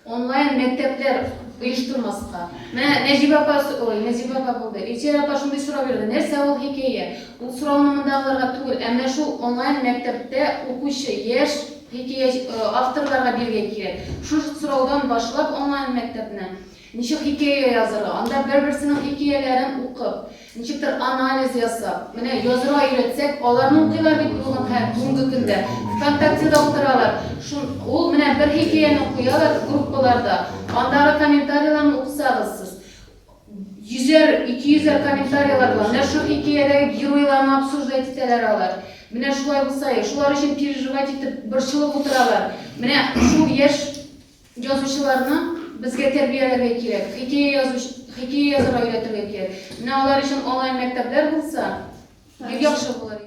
онлайн мәктәпләр оештырмаска? Менә Нәҗибә апа, ой, Нәзибә апа булды. Илсөя апа шундый сорау бирде, нәрсә ул хикәя? Ул сорауны мондагыларга түгел, ә менә шул онлайн мәктәптә укучы яшь Хикәя авторларга биргә кирәк. Шушы сораудан башлап онлайн мәктәпне ничек хикәя язырга, анда бер-берсенең хикәяләрен укып, ничектер анализ ясап, менә язырга өйрәтсәк, аларны укыйлар бит бүген һәр бүгенге көндә. Вконтактеда утыралар, шун ул менә бер хикәяне куялар группаларда, андагы комментарийларны укысагыз сез, Йөзәр, ике йөзәр комментарийлар була. Менә шул хикәядәге геройларны обсуждать итәләр алар. Менә шулай булса, шулар өчен переживать итеп, борчылып утыралар. Менә шул яшь язучыларны безгә тәрбияләргә кирәк. Хикәя язу, хикәя язарга өйрәтергә кирәк. Менә алар өчен онлайн мәктәпләр булса, бик яхшы булыр.